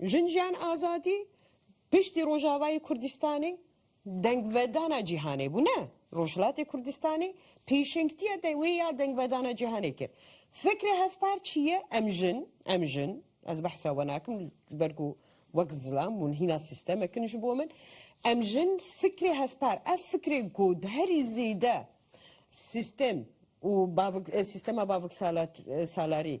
Jinjiyan azadî piştî Rojavayê Kurdistanê dengvedana cîhanê bû ne Rojhilatê Kurdistanê pêşengtiya wê ya dengvedana cîhanê kir. Fikrê hevpar çi ye? Em jin, em jin, ez behsa we nakim li ber ku wek zilam hûn hîna sîstemek in ji bo min, em jin fikrê hevpar ev fikrê ku herî zêde sîstem û sîstema baviksalarî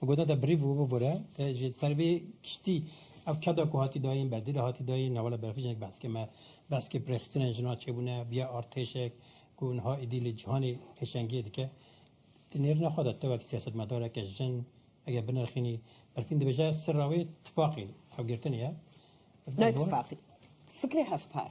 Bi goda te birî bû bibore te ji ser vê kiştî ev keda ku hatî dayîn berdê de hatî dayîn newala berfê jinek behs ke me behskê pirêxistinên jinan çêbûne biya artêşek ku niha êdî li cîhanê pêşengiyê dike di nêrîna xwe de te wek siyasetmedareke jin eger binerxînî berfîn dibêje sirra wê tifaqî ew girtinê ye. Ne tifaqî fikrê hevpar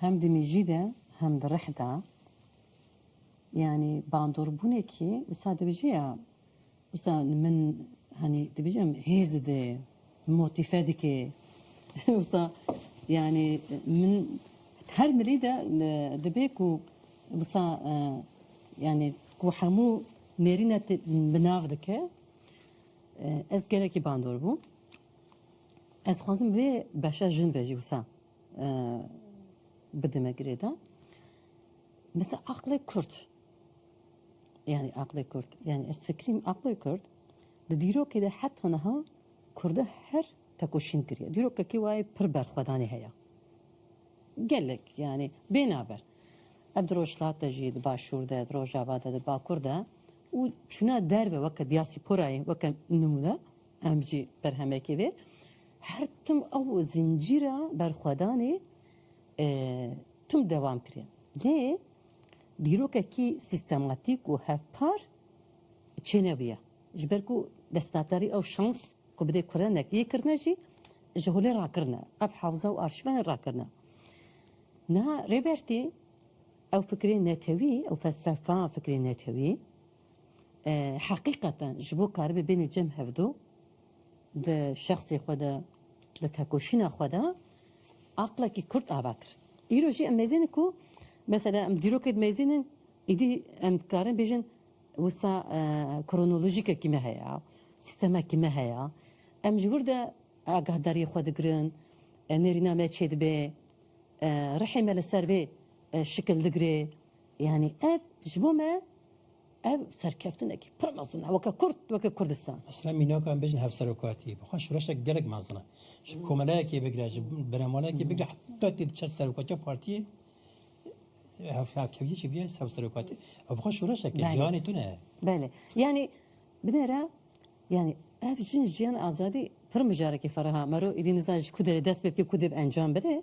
Hem di mijî de hem di rih de yanî bandorbuunekî wisa dibijî ya wisa min hanî dibijim hêz dide motife dike wisa yanî min her mirî de dibe ku wisa yanî ku hemû nêrîne te bi nav dike ez gelekî bandor bûm ez xwazim vê beşa jin ve jî wisa bidime girêdan. Mesela aqlê Kurd. Yani aqlê Kurd. Yani ez fikrîm aqlê Kurd di dîrokê de heta niha Kurda her tekoşîn kiriye. Dîrokekî wayê pir berxwedanê heye. Gelek yani bênaber. Ev di rojhilate jî di başûr de, di rojava de, di bakur de û çûna derve weke diyasîporayê weke nimûne Em jî berhemekê vê her tim ew zincîra berxwedanê tim dewam kirê. Lê dîrokekî sîstematîk û hevpar çênebûye. Ji ber ku destnatarî ew şans ku bidê kurenek yê kirine jî ji holê rakirine. Ev hewza û arşîvanê rakirine. Niha Rêbertî ew fikrê netewî, ew felsefa fikrê netewî Heqîqeten ji bo karibê bênê cem hevdu di şexsê xwe de, di tekoşîna xwe de aqlekî kurt ava kir. Îro jî em mêzînin ku mesela em dîrokê dimêzînin îdî em dikarin bêjin wisa kronolojîkekî me heye, sîstemekî me heye. Em ji wir de agahdariyê xwe digirin, nêrîna me çêdibe, rihê me li ser vê şikil digire. Yanî ev ji bo me ev serkeftinekî pir mezin e weke Kurd, weke Kurdistan. Esra mînaka em bêjin hevserokatî bi xwe şoreşek gelek mezin e. Ji komeleyekê bigire, ji benemaleyekê bigire heta tê diçe serokatiya partiyê hevkeviyê jî bîya hevserokatî. Ew bi xwe şoreşek e, ciwanê tune ye. Belê. Yanî binêra yanî ev jin jiyan azadî pir mijarekî feraha. Mero êdî nizan ji ku derê dest pê bike, ku dê bi encam bide.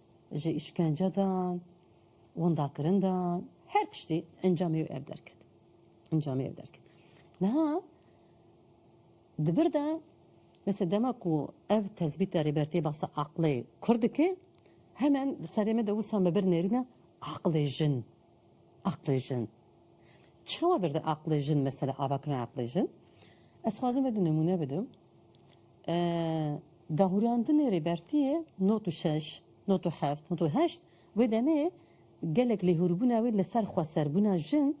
Ji îşkence dan, windakirin dan, her tiştî encamê wê ev derket. Encamê ev derket. Niha di vir de mesela dema ku ev tezbîta Rêbertiyê basa aqilê Kurd dike, hemen di serê me de wisa me bir nêrîne aqilê jin. Aqlê jin. Çawa berde aqlê jin mesela avakirina aqlê jin? Ez xwazim ve du nemûne bidim. Dahûrandinê Rêbertiyê not û şeş, not û heft, not û heşt wê demê gelek lêhûrbûna wê li ser xweserbûna jin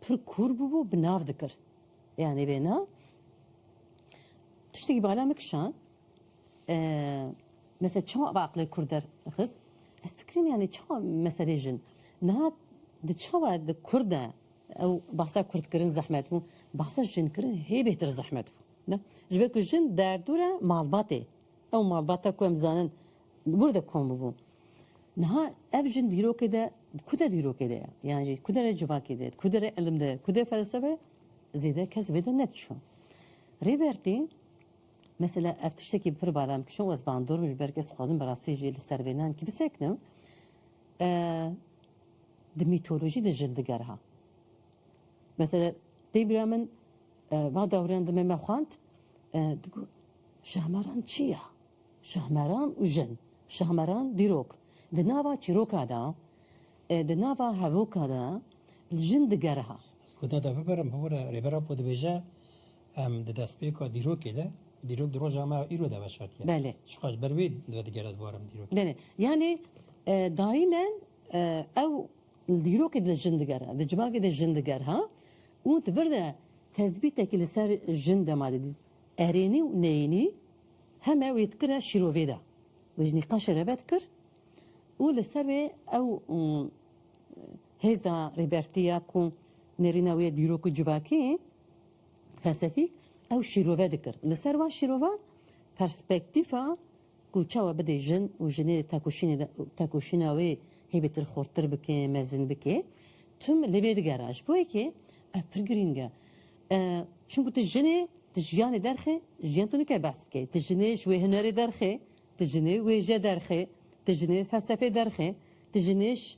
pir kûr bûbû bi nav dikir. Yanê wêna tiştekî bala min kişand. Mesela çawa ev aqilê kurd derxist? Ez fikirîm yanî çawa meselê jin niha di çawa di kurd de ew bahsa kurdkirin zehmet bû, bahsa jinkirin hê bêhtir zehmet bû. Ne? Ji ber ku jin derdûre malbatê. Ew malbata ku em dizanin li wir de kom bû. Niha ev jin dîrokê de ku de dîrokê de ye. Yan jî ku derê civakê de, ku derê ilim de, ku derê felsefê zêde kes vê de nediçû. Rêbertî Mesela ev tiştekî pir bala em kişand û ez bandor bûm ji ber ku ez dixwazim bi rastî jî li ser vê nehemkî bisekinim. Di mîtolojî de jin diger ha. Mesela dê bira min va dewriyan di me me xwend digot Şahmeran çi ya? Şahmeran û jin, Şahmeran dîrok. Di nava çîroka de, di nava hevoka de jin diger ha. Guda de bibirim, bibire rêbera ku dibêje. Em di destpêka dîrokê de, dîrok di roja me ya îro de veşartiye. Belê. Ji xwe ji ber wê divê digere di baran dîrokê. Belê. Yanî daîmen ew li dîrokê de jin digere, di civakê de jin diger ha û di vir de tezbîtekî li ser jin dema de dît. Erênî û neyênî heme wê dikire şîrovê de. Wê ji nîqaşê re vedikir û li ser wê ew Hêza Rêbertî ya ku nêrîna wî ye dîrok û civakî, felsefîk, ew şîrove dikir. Li ser van şîrova perspektîfa ku çawa bidê jin û jinê di tekoşînê de tekoşîna wê hêbîtir xurttir bike, mezin bike, Thüm li vê digera. Ji bo yekê ev pir girîng e. Çimkû tu jinê, tu jiyanê derxê, jiyan tu nike behs bike. Tu jinê ji wê hunerê derxê, tu jinê wêje derxê, tu jinê felsefê derxê, tu jinê ji.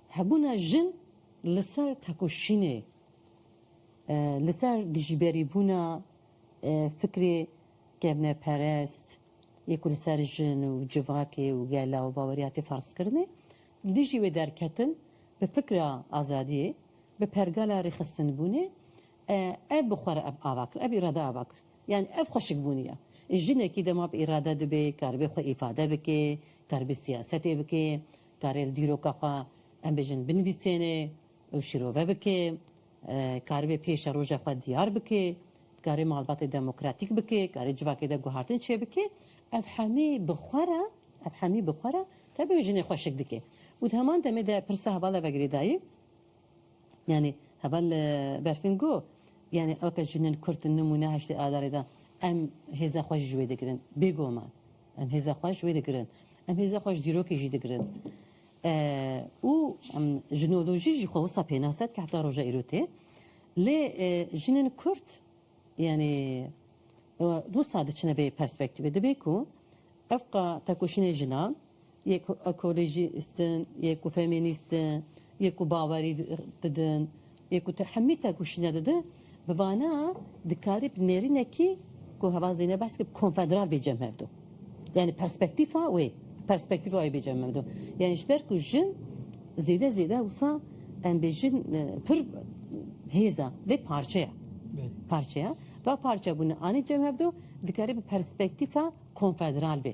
Hebûna jin li ser tekoşînê, li ser dijberîbûna fikrê kevneperest yê ku li ser jin û civakê û gela û bawerî hate ferzkirinê, dijî wê derketin bi fikra azadiyê, bi pergala rêxistinbûnê, ev bi xwe re ev ava kir, ev îrade ava kir. Yanî ev xweşikbûnî ye. Jinekî dema bi îrade dibe, karibê xwe îfade bike, karibê siyasetê bike, Karê li dîroka xwe em bêjin binivîsênê û şîrove bikê, karibê pêşe roja xwe diyar bikê, dikarê malbatê demokratîk bikê, karê civakê de guhertin çêbikê, ev hemî bi xwe re, ev hemî bi xwe re tevî wê jinê xweşik dikê. Û di heman demê de pirsa heval eve girêdayî, yanî heval berfin go, yanî oke jinên kurd nimûne heştê adarê de em hêza xwe jî ji wê digirin bêguman. Em hêza xwe ji wê digirin. Em hêza xwe ji dîrokê jî digirin. Û jinolojî jî xwe wisa pênas e, heta roja îro tê. Lê jinên Kurd yanî wisa diçine vê perspektîvê. Dibe ku ev ka tekoşînên jinan Yê ku ekolojîst in, yê ku femînîst in, yê ku bawerî didin, yê ku hemî têkoşîna didin, bi vana dikarî bi nêrînekî ku heval Zeynep behs kir konfederal bê cem hev do. Yanî perspektîfa wê, perspektîfa wê bê cem hev do. Yanî ji ber ku jin zêde zêde wisa em bê jin pir hêz e vê parçeya. Parçeya va parçebûna anî cem hev do dikarî bi perspektîfa konfederal bê.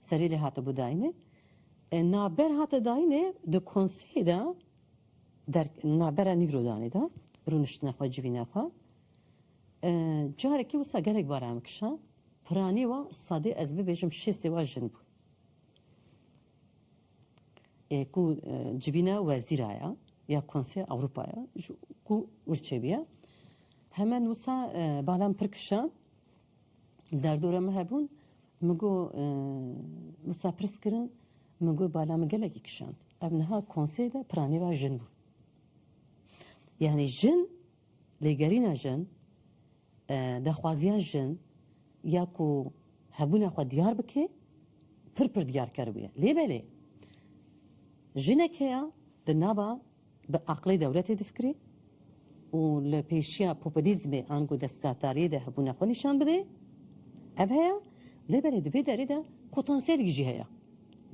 Serî lê hatibû dayînê. Navber hate dayînê di konseyê de der navbera nîvro danê de rûniştine xwe civîne xwe. Carekê wisa gelek bara em kişa. Piranî wa sadê ez bibêjim şêstê wa jin bû. Ê ku civîne wezîra ya ya Konseya Ewropa ya ku wirçe bîya. Hemen wisa balan pir kişa Li derdora min hebûn, min got wisa pirs kirin, min got bala min gelekî kişand. Ev niha konsey de piranîra jin bû. Yanî jin, lêgerîna jin, daxwaziya jin ya ku hebûna xwe diyar bike pir pir diyarker bûye. Lê belê jinek heye di nava Bi aqilê dewletê difikirê û li pêşiya populîzmê ango desthilatdariyê de hebûna xwe nîşan bide. Ev heye, lê belê di vê derê de potansiyelekî jî heye.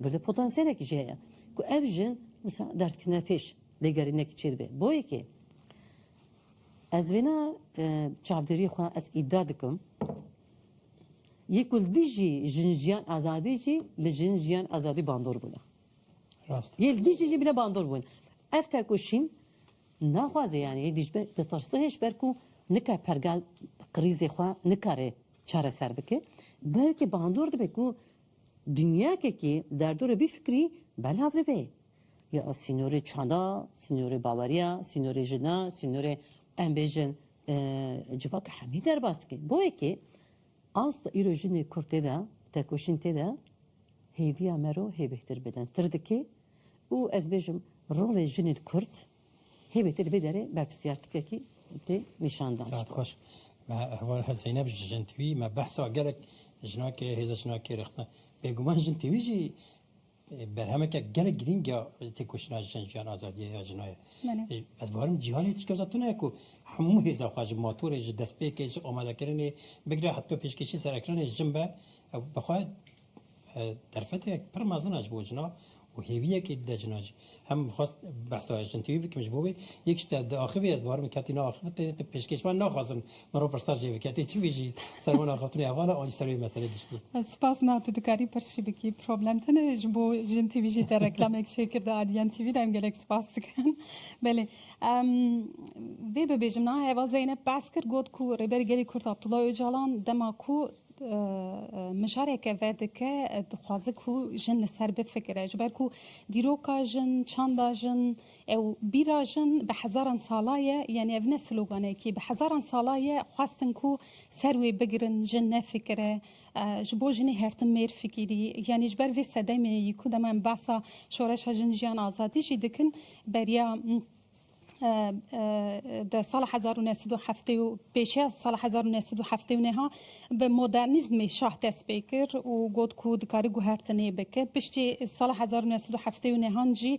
Girde potansiyelekî jî heye ku ev ji wisa derdikirina pêş lêgerînekî çêdibe. Bo yekê ez vêna çavdêriyê xwe ez îdia dikim yê ku li dijî jin jiyan azadî jî li jin jiyan azadî bandor bûna. Yê li dijî jî bine bandor bûn. Ev tekoşîn naxwaze yanî yê dijî ditirse ji ber ku nika pergal krîzê xwe nikare çareser bike. Belkî bandor dibe ku dinyakekî derdora vî fikrî belav dibe. Ya sînorê çanda, sînorê baweriya, sînorê jina, sînorê em bêjin civaka hemî derbas dike. Bo yekê Ast îro jinê kurd tê de, tekoşîn tê de hêviya me ro hê bêhtir bidin tir dike û ez bêjim rolê jinên kurd hê bêhtir li vê derê berpirsiyartikekî tê nîşan dan. Saet xweş. Me heval Zeynep ji Jin TV, me behsa gelek jinakê, hêza jinakê rêxistin. Bêguman Jin TV jî. Berhemeke gelek girîng ya têkoşîna jin jiyan azadiya ya jinan ye. Ez barim cîhanê tîka za tune ye ku hemû hêza xwe ji matorê ji destpêkê ji amadekirinê bigire heta pêşkêşî ser ekranê jin be ew bi xwe derfeteyek pir mezin e ji bo jinan û hêviyekê dide jinan jî. Heman bi xwest behsa jintivî bikim ji bo wê yek ji te diaxivî ez dixwarim ketî neaxivit tê de pêşkêş wan naxwazim min ro pirsa jê bike tê çivî jî ser wan axaftinê heval e an jî ser wê meselê giştî. Spas na tu dikarî pirs jî bikî problem tune ji bo jintivî jî te reklamek jê kir di adn TV de em gelek spas dikin belê em vê bibêjim niha heval Zeynep behs kir got ku Rêberê Gelê Kurd Abdullah Ocalan dema ku Mijareke vedike dixwaze ku jin li ser bifikire ji ber ku dîroka jin, çanda jin û bîra jin bi hezaran sala ye, yanî ev ne sloganekî bi hezaran sala ye xwestin ku ser wê bigirin jin nefikire, ji bo jinê hertim mêr fikirî yanî ji ber vê sedemê yî ku dema em behsa şoreşa jin, jiyan, azadî jî dikin beriya. Di sala hezar û neh sed û heftê û pêş ya sala hezar û neh sed û heftê û neha bi modernîzmê şah dest pê kir û got ku dikarî guhertinê bike. Piştî sala hezar û neh sed û heftê û nehan jî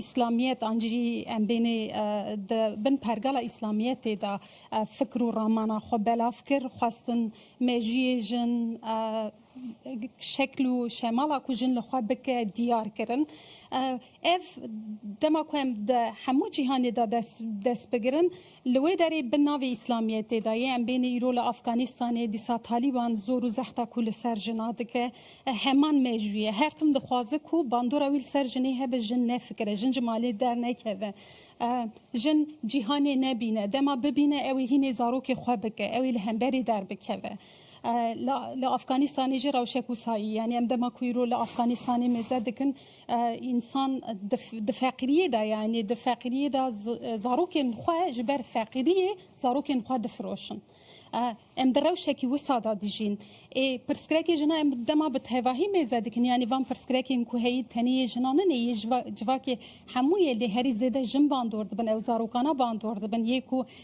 îslamiyet an jî em bênê di bin pergala îslamiyetê de fikir û ramana xwe belav kir, xwestin mejiyê jin, şekl û şemala ku jin li xwe bike diyar kirin. Ev dema ku em di hemû cîhanê de dest bigirin li wê derê bi navê îslamiyetê de yê. Em bêne îro li Afganistanê dîsa Talîban zor û zehta ku li ser jina dike heman mejû ye. Her tim dixwaze ku bandora wî li ser jinê hebe jin nefikire, jin ji malê dernekeve, jin cîhanê nebîne. Dema bibîne ew ê hînê zarokê xwe bike, ew ê li hemberê derbikeve. Li Afganîstanê jî rewşe ku sayî yanî em dema ku îro li Afganîstanê mêze dikin însan di feqîriyê de yanî di feqîriyê de zarokên xwe ji ber feqîriyê zarokên xwe difiroşin. Em di rewşekî wisa de dijîn. Ê pirsgrekê jina em dema bi tevahî mêze dikin yanî van pirsgrekên ku heyî tenê yê jina nine yê civakê hemû ye lê herî zêde jin bandor dibin ew zarokana bandor dibin yê ku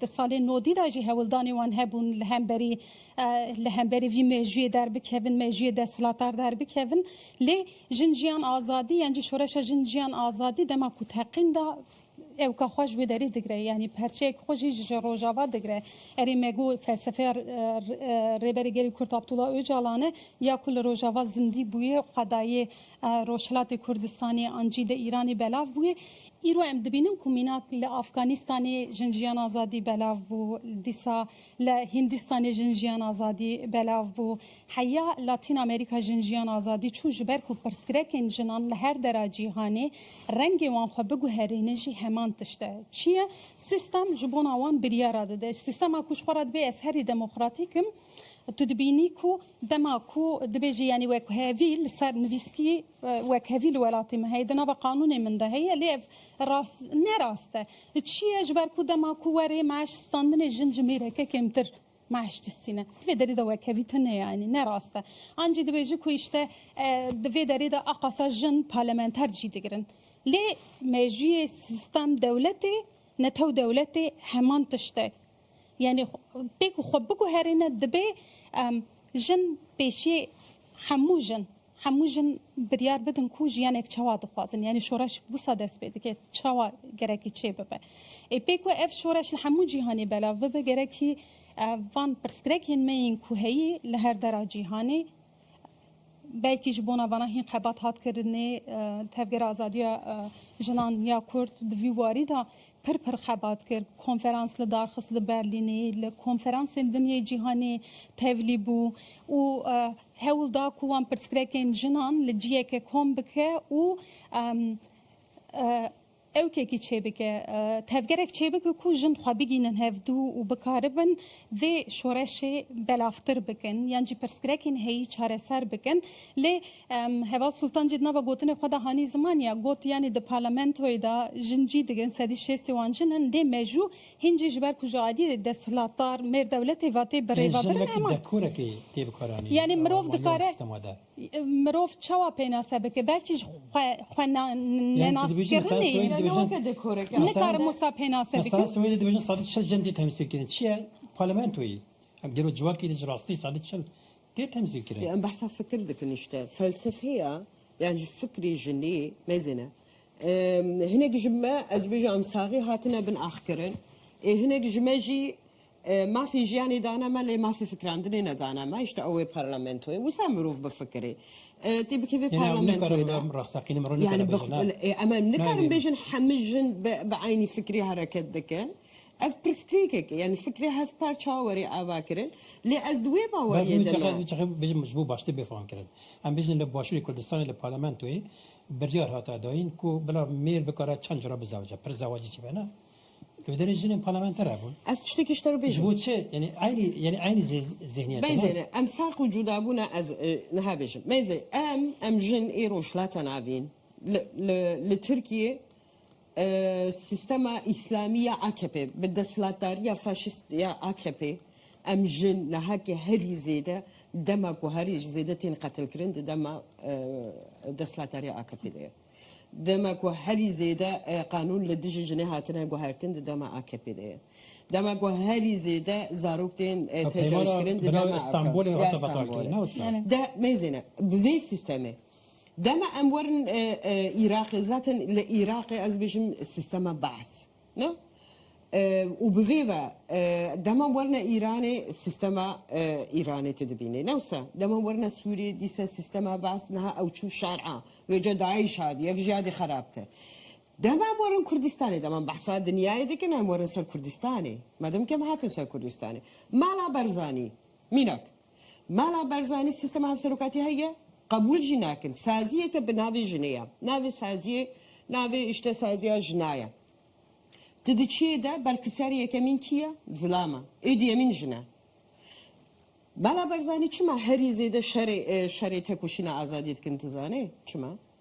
Di salên nodî de jî hewldanên wan hebûn li hemberî li hemberî vî mejûyê derbikevin, mejûyê desthilatar derbikevin. Lê Jin Jiyan Azadî yan jî Şoreşa Jin Jiyan Azadî dema ku teqîn da ewka xwe ji wê derê digre yanî perçeyek xwe jî ji Rojava digre. Erê me got felsefeya Rêberê Gelê Kurd Abdullah Ocalan e ya ku li Rojava zindî bûye û qedayê Rojhilatê Kurdistanê an jî di Îranê belav bûye. Îro em dibînin ku mînak li Afganîstanê jin jiyan azadî belav bû, dîsa li Hîndîstanê jin jiyan azadî belav bû, heya Latîn Amerîka jin jiyan azadî çû ji ber ku pirsgrekên jinan li her dera cîhanê rengê wan xwe biguherînin jî heman tişt e. Çi ye? Sîstem ji bona wan biryara dide. Sîstema ku ji xwe re dibê ez herî demokratîk im, Tu dibînî ku dema ku dibêjî yanî wekhevî li ser nivîskî wekhevî li welatî min heye di nava qanûnê min de heye lê ev rast ne rast e. Çi ye ji ber ku dema ku werê meş standinê jin ji mêreke kêmtir meş distîne. Di vê derê de wekhevî tune ye yanî ne rast e. An jî dibêjî ku îşte di vê derê de a qasa jin parlamenter cî digirin. Lê mejûyê sîstem dewletê netew dewletê heman tişt e. Yanî pê ku xwe biguherîne dibê jin pêşiyê hemû jin hemû jin biryar bidin ku jiyanek çawa dixwazin. Yanî şoreş wisa dest pê dike çawa gerekî çê bibe. Ê pê ku ev şoreş li hemû cîhanê belav bibe gerekî van pirsgrekên me yên ku heyî li her dera cîhanê, Belkî ji bona vana hîn xebat hat kirinê. Tevgera Azadiya Jinan ya Kurd di vî warî de pir pir xebat kir. Konferans li dar xist li Berlînê, li konferansên din yê cîhanê tevlî bû û hewl da ku wan pirsgrekên jinan li ciyeke kom bike û Ewkekî çêbike, tevgerek çêbike ku jin xwe bigînin hevdû û bikaribin vê şoreşê belavtir bikin yan jî pirsgrekên heyî çareser bikin. Lê Heval Sultan jî di nava gotinê xwe de hanî ziman ya got, yanî di parlamentoyê de jin cî digrin, sedî şêstê wan jin in, dê mejû hîn jî ji ber ku ji aliyê desthilatdar mêr dewletê ve tê birêvebirin. Ema yanî mirov dikare. Mirov çawa pênase bike? Belkî ji xwe xwe nenaskirinê ye. Nikarim wisa pênase bikim. Mesela Swêdê dibêjin sedî çil cem tê temsîlkirin. Çi ye? Parlamentoyê. Em gelo civakê de ji rastî sedî çil tê temsîlkirin. Em behsa fikir dikin îşte. Felsefeya yan jî fikrê jinî mêzêne. Hinek ji me ez dibêjim em saxî hatine bin axkirin. Ê hinek ji me jî Mafê jiyanê dane me lê mafê fikrandinê nedane me. Îşte ew ê parlamentoyê. Wisa mirov bifikirê. Tê bikê vê parlamentoyê de. Yani em nikarin bêjin hemû jin bi eynî fikrî hereket dikin. Ev pirsgirêkek e. Yani fikrê hevparça were ava kirin. Lê ez di wê baweriyê de ne. Bêjim ji bo baştir bêfam kirin. Em bêjin li Başûrê Kurdistanê li parlamentoyê biryar hate dayîn ku bila mêr bikare çend cara bizewce. Pirs zewacî çi be ne? Ev derê jinên parlamentere bûn. Ez tiştekî ji te re bêjim. Ji bo çi? Yanî eynî yanî eynî zê zihniyet. Beyzê ne? ne em ferq û cuda bûne ez e, niha bêjim. Beyzê em em jin ê rojhilata navîn li li li Tirkiyê e, sîstema îslamî ya AKP bi desthilatdariya faşîst ya AKP em jin nihakê herî zêde dema ku herî zêde tên qetilkirin di dema e, desthilatdariya AKP'ê de ye. Dema ku herî zêde qanûn li dijî jinê hatine guhertin di dema AKP'ê de ye. Dema ku herî zêde zarok tên tecawizkirin di dema AKP'ê de ye. De mêzêne bi vê sîstemê dema em werin Îraqê zaten li Îraqê ez dibêjim sîstema Baas. Na, û bi vê ve dema werine Îranê sîstema Îranê tu dibînî. Newsa dema werine Sûrî dîsa sîstema Bas niha ew çû şer'a wê ca Daîş hat yek ji ya dî xerabtir. Dema em werin Kurdistanê dema em behsa dinyayê dikin em werin ser Kurdistanê. Me demkê em hatin ser Kurdistanê. Mala Berzanî mînak. Mala Barzanî sîstema hevserokatî heye, qebûl jî nakin. Saziyeke bi navê jinê ye. Navê saziyê navê îşte saziya jina ye. Ti di çiyê de berpirsiyarê yekemîn kî ye? Zilam e. Ê duyemîn jin e. Mala Barzanî çima herî zêde şerê şerê têkoşîna azadiyê dikin ti zanê? Çima?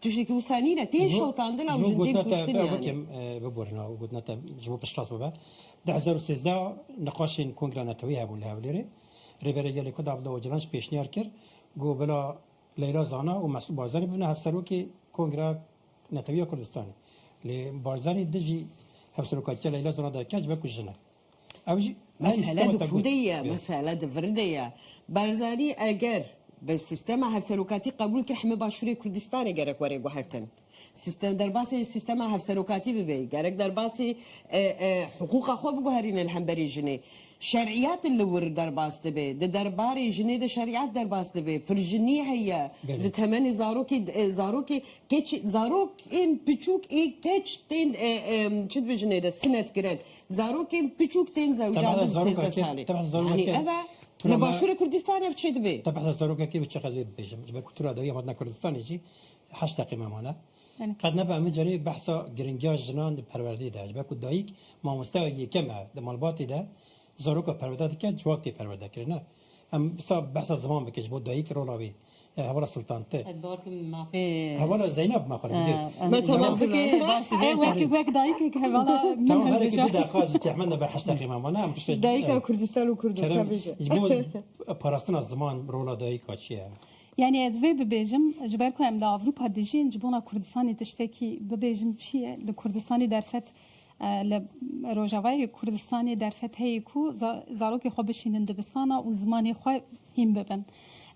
Tu ji Husani re tên şewtandin ew jin tên kuştin yani. Ji bo gotina te bikim biborîne û gotina te ji bo piştrast bibe. Di hezar û sêzdeh niqaşên Kongra Neteweyê hebûn li Hewlêrê. Rêberê Gelê Kurd Abdullah Ocalan jî pêşniyar kir ku bila Leyla Zana û Mesûd Barzanî bibne hevserokê Kongra Netewî ya Kurdistanê. Lê Barzanî dijî hevserokatiya Leyla Zana de keç be ku jin e. Ew jî Mesele di ku de ye, mesele di vir de ye. Barzanî eger bi sîstema hevserokatî qebûl kir hemû Başûrê Kurdistanê gerek were guhertin. Sîstem derbasî sîstema hevserokatî bibe, gerek derbasî hiqûqa xwe biguherîne li hemberî jinê. Şerîyat li wir derbas dibe. Di derbarê jinê de şerîyat derbas dibe. Pirjinî heye di temenê zarokê de zarokê keç zarokên piçûk ê keç tên çi dibe jinê de sinetkirin. zarokên piçûk tên zewcan bin sêzdeh salê. Yanî ev e li başûrê Kurdistanê ev çê dibê. Te behsa zarokekê bi çiqet vê bibêjim ji ber ku tu ra dawî em hatina Kurdistanê jî heşt deqê me mane. Qet nebe em hicarê behsa giringiya jinan di perwerdeyê de ji ber ku dayîk mamosteya yekem e di malbatê de zaroka perwerde dike civak tê perwerdekirine. Em îsa behsa ziman bikin ji bo dayîk rola wî hevala Siltan ti. Ez bar dikim mafê. Hevala Zeynab ma xwe dibî. Me temam dike baş e. Wek wek dayikek hevala min hilbije. Tamam herikî du deqa jî tehmend be heşt deqê ma wana em pişt. Dayika Kurdistan û Kurd in tevêje. Ji bo parastina ziman rola dayika çi ye? Yanî ez vê bibêjim ji ber ku em li Ewropa dijîn ji bona Kurdistanê tiştekî bibêjim çi ye? Li Kurdistanê derfet Li Rojavayê Kurdistanê derfet heye ku zarokên xwe bişînin dibistana û zimanê xwe hîn bibin.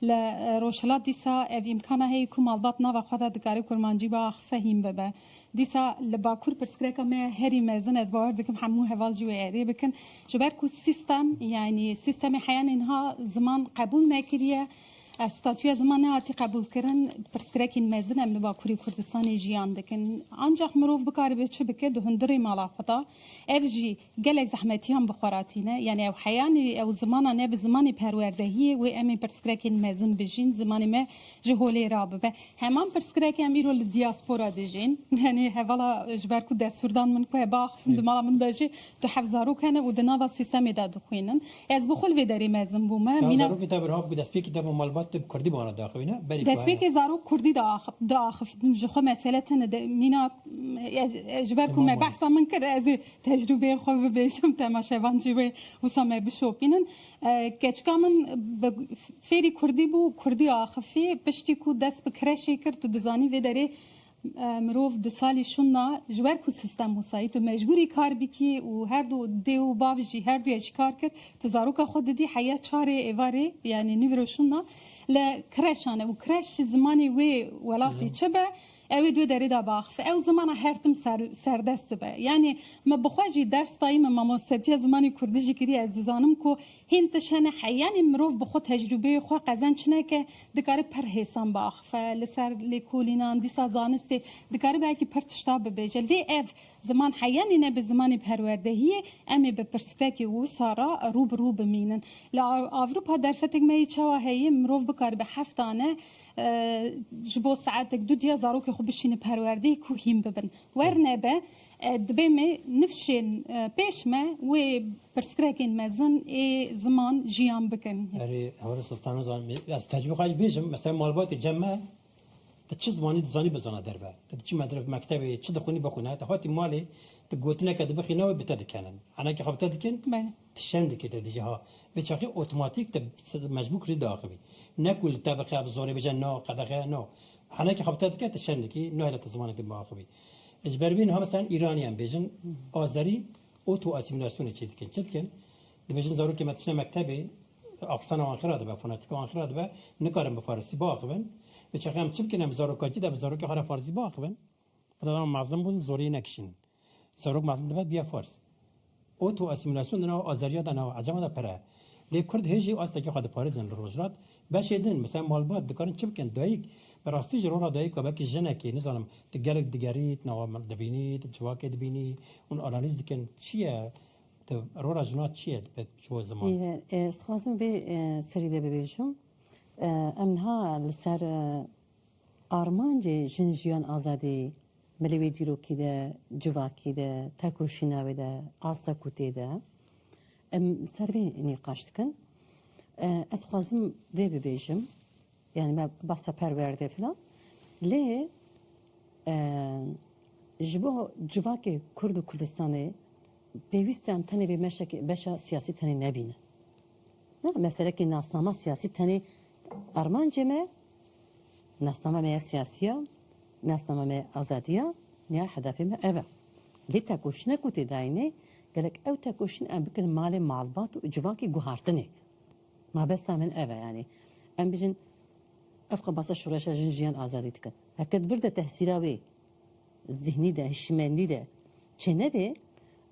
Li Rojhilat dîsa ev îmkana heye ku malbat nava xwe de dikare kurmancî bi axife hîn bibe. Dîsa li Bakur pirsgirêka me ye herî mezin, ez bawer dikim hemû heval jî wê êrê bikin. Ji ber ku sîstem yanî sîstemê heya niha ziman qebûl nekiriye. Statuya ziman nehatî qebûlkirin, pirsgrekîn mezin em li Bakurê Kurdistanê jiyan dikin. Ancax mirov bikaribe çi bike di hundirê mala xwe de? Ev jî gelek zehmetiyan bi xwe re tîne. Yanî ew heyanî ew zimana ne bi zimanê perwerdehiyê wê em ê pirsgrekên mezin bijîn, zimanê me ji holê rabibe. Heman pirsgirek em îro li diaspora dijîn. Yanî hevala ji ber ku destûrdan min ku heba axiftin di mala min de jî du heft zarok hene û di nava sîstemê de dixwînin. Ez bi xwe li vê derê mezin bûme. Mîna. Zarokê te berhaf bû destpêkê te bo malbat te bi kurdî bana diaxivîne, berî ku hene. Destpêkê zarok kurdî diaxivîn ji xwe mesele tune de mîna ez ji ber ku me behsa min kir ez ê tecrûbeyê xwe bibêjim temaşevan jî wê wisa me bişopînin. Keçika min bi fêrî kurdî bû kurdî axivî piştî ku dest bi kireşê kir tu dizanî vê derê Mirov di salî şûna ji wer ku sistem wisa yî tu mecbûrî kar bikî û her du dê û bav jî her duya jî kar kir. Tu zaroka xwe didî heya çar ê êva rê yanî nîvro şûna li kreşan e û kreş jî zimanê wê welatî çi be ew ê duê derê de biaxife. Ew zimana her tim serdest dibe. Yanî min bi xwe jî ders dayî min mamostetiya zimanê kurdî jî kirî ez dizanim ku hîn tişt hene heyanî mirov bi xwe tecrûbeyê xwe qezenç neke Dikare pir hêsan biaxife li ser lêkolînan, dîsa zanistê dikare belkî pir tişta bibêje. Lê ev ziman heya nîne bi zimanê perwerdehiyê, em ê bi pirsgirêkê wisa re rû bi rû bimînin. Li Ewropa derfetek me yê çawa heye mirov bikaribe heft dane ji bo saetek du diya zarokê xwe bişîne perwerdehê ku hîn bibin. Wernebe Divê me nifşên pêş me wê pirsgrekên mezin ê ziman jiyan bikin. Erê Hewra Sultan Ozan ez tecrûbeya xwe jî bêjim mesela malbatê cem me ti çi zimanî dizanî bizana derve. Ti diçî medrese mektebê çi dixwînî bixwîne ti hatî malê ti gotineke dibixîne wê bi te dikenin. Henekî xwe bi te dikin ti şerm dikî te dijî ha. Vê çaxê otomatîk te mecbûr kirî diaxivî. Ne ku li te bixe bi zorê bije no qedexe no. Henekî xwe bi te dike ti şerm dikî nahêle te zimanek din biaxivî. Ji ber vê niha meselan Îraniyan bêjin Azerî oto asîmîlasyonê çê dikin. Çi dikin? Dibêjin zarokê me tişne mektebê aksana wan xira dibe, fonatîka wan xira dibe, nikarin bi farisî biaxivin. Bi çaxê em çi bikin? Em bi zarokatî de bi zarokê xwe re farisî biaxivin. Bi dema mezin bûn zoriyê nekişînin. Zarok mezin dibe bia fars. Oto-asîmîlasyon di nava Azeriya de, nava Ecema de pir e. Lê Kurd hê jî astekî xwe diparêzin. Li rojhilat beşê din, misal malbat, dikarin çi bikin? Dayik, bi rastî ji rora dayika wekî jinekê, nizanim, tu gelek digerî, tu nava min dibînî, tu civakê dibînî, hûn analîz dikin, çi ye, tu, rora jina çi ye bi ji bo ziman? Ez dixwazim vê serî de bibêjim, em niha li ser, Armancê Jin Jiyan Azadî, me li wê dîrokî de, civakî de, tekoşîna wê de, asta ku tê de, em ser vê nîqaş dikin. Ez dixwazim vê bibêjim, yanî me behsa perwerdê filan, lê ji bo civakê Kurd û Kurdistanê pêwîst e em tenê vê meşekê, beşa siyasî tenê nebînin. Na, me serekê nasnama siyasî tenê armancê me, Nasnama me ya siyasî ya, nasnama me ya azadî ya ya hedefê me ev e. Lê tekoşîna ku tê dayînê gelek ew tekoşîn em bikin malê malbat û civakê guhartinê. Mabesa min ev e yanî em bijin ev xwe basa şoreşa jin jiyan azadî dikin. Heke di vir de tehsîra wê zîhnî de, hişmendî de çênebê,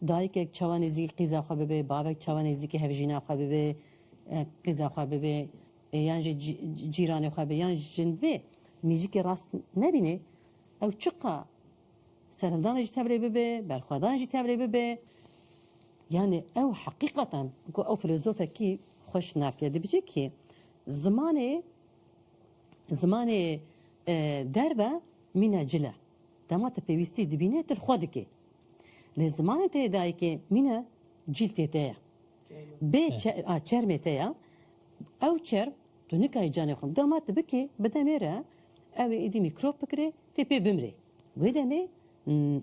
dayikek çawa nêzîkî qîza xwe bibe, bavek çawa nêzîkî hevjîna xwe bibe, qîza xwe bibe, Yan jî cîranê xwe be yan jin bê mîzîkê rast nebînê ew çiqa serhildanê jî tevlê bibe, berxwedan jî tevlê bibe. Yanê ew heqîqatan ku ew filozofekî xwe şinar kir dibêje kî zimanê zimanê derve mîna cil e. Dema tu pêwîstî dibînê tu li xwe dikê. Lê zimanê te yê dayikê mîna cîl tê te ye. Bê çermê te ye. Ew çerm tu nikayî canê xwe gama tu bikî bi demê re ew ê êdî mîkrop bikirê tê pê bimrê. Wê demê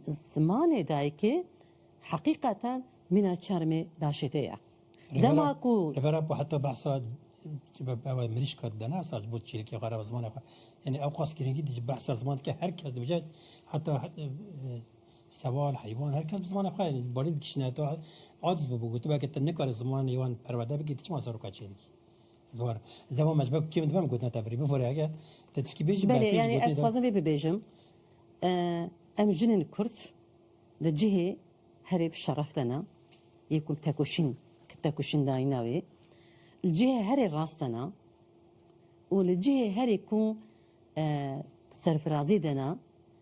zimanê dayikê heqîqatan mîna çermê daşêtê ye. Dema ku. Li vera ku heta behsa ew mirîşka dide ne sac bo çîrikê xwe re zimanê xwe. Yanî ew qas girîngî dide behsa ziman dike her kes dibêje heta Sewal, heywan her kes bi zimanê xwe balîn dikişîne. Tu aciz bûbû ku tu weke te nikarî zimanê wan perwerde bikî, tu çima seroka çê dikî? Ez war im. Li dema me ji ber ku kêm dibe em gotina te birî. Bifore heke te tiştî bêjî Belê, berfê ji yanî gotinê ez de. dixwazim vê bibêjim, em jinên kurd di cihê herê bi şeref de ne, yê ku em tekoşîn ki tekoşîn dayîna wê, li cihê herê rast de ne û li cihê herê ku serfirazî de ne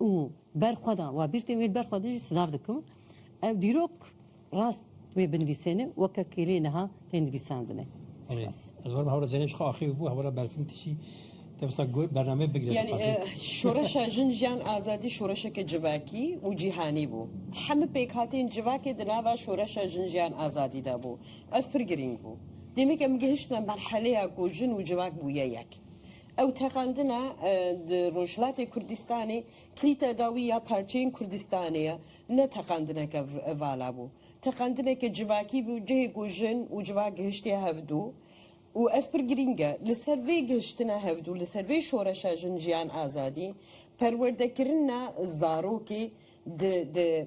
Û ber xwe de wa bîrtên wê li ber xwe de jî silav dikim. Ev dîrok rast wê binivîsê ne weke kêlê niha tên nivîsandine. Erê, ez werim hewra Zeynep jixwe axêv bû, hewra berfin tişî te wisa bernameyê bigire Yani dixwazin. şoreşa jin jiyan azadî şoreşeke civakî û cîhanî bû. Hemû pêkhatên civakê di nava şoreşa jin jiyan azadî de bû. Ev pir girîng bû. Demeke min gihiştine merheleya ku jin û civak bûye yek. Ew teqandina di Rojhilatê Kurdistanê kilîta dawî ya parçeyên Kurdistanê ye. Ne teqandineke vala bû. Teqandineke civakî bû cihê ku jin û civak gihiştiye hevdû û ev pir girîng e. Li ser vê gihiştina hevdû, li ser vê şoreşa jin jiyan azadî, perwerdekirina zarokê di di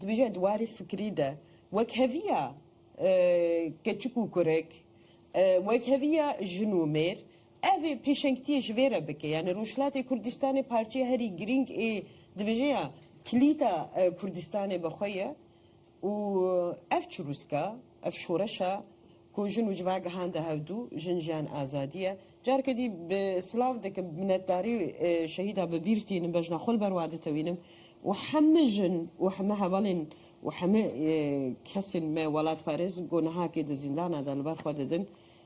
dibêje di warê fikirî de wekheviya keçik û kurek, wekheviya jin û mêr, Ev ê pêşengtiyê ji vê re bike. Yanî Rojhilatê Kurdistanê parçeya herî girîng ê dibêje ya kilîta Kurdistanê bi xwe ye û ev çirûska, ev şoreşa ku jin û civa gihande hevdû, jin jiyan azadî ye. Careke dî bi silav dikim, minetdarî şehîdan bi bîr tînim, bejna xwe li ber wan ditewînim û heme jin û heme hevalên û heme kesên me welatparêz ku nihakê di zîndana de li ber xwe didin,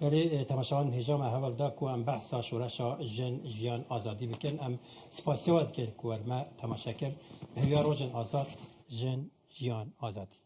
Berê temaşevan hêja me heval da ku em behsa şoreşa Jin, Jiyan, Azadî bikin. Em spasiya we dikin ku we me temaşe kir. Bi hêviya rojên azad, jin, jiyan, azadî.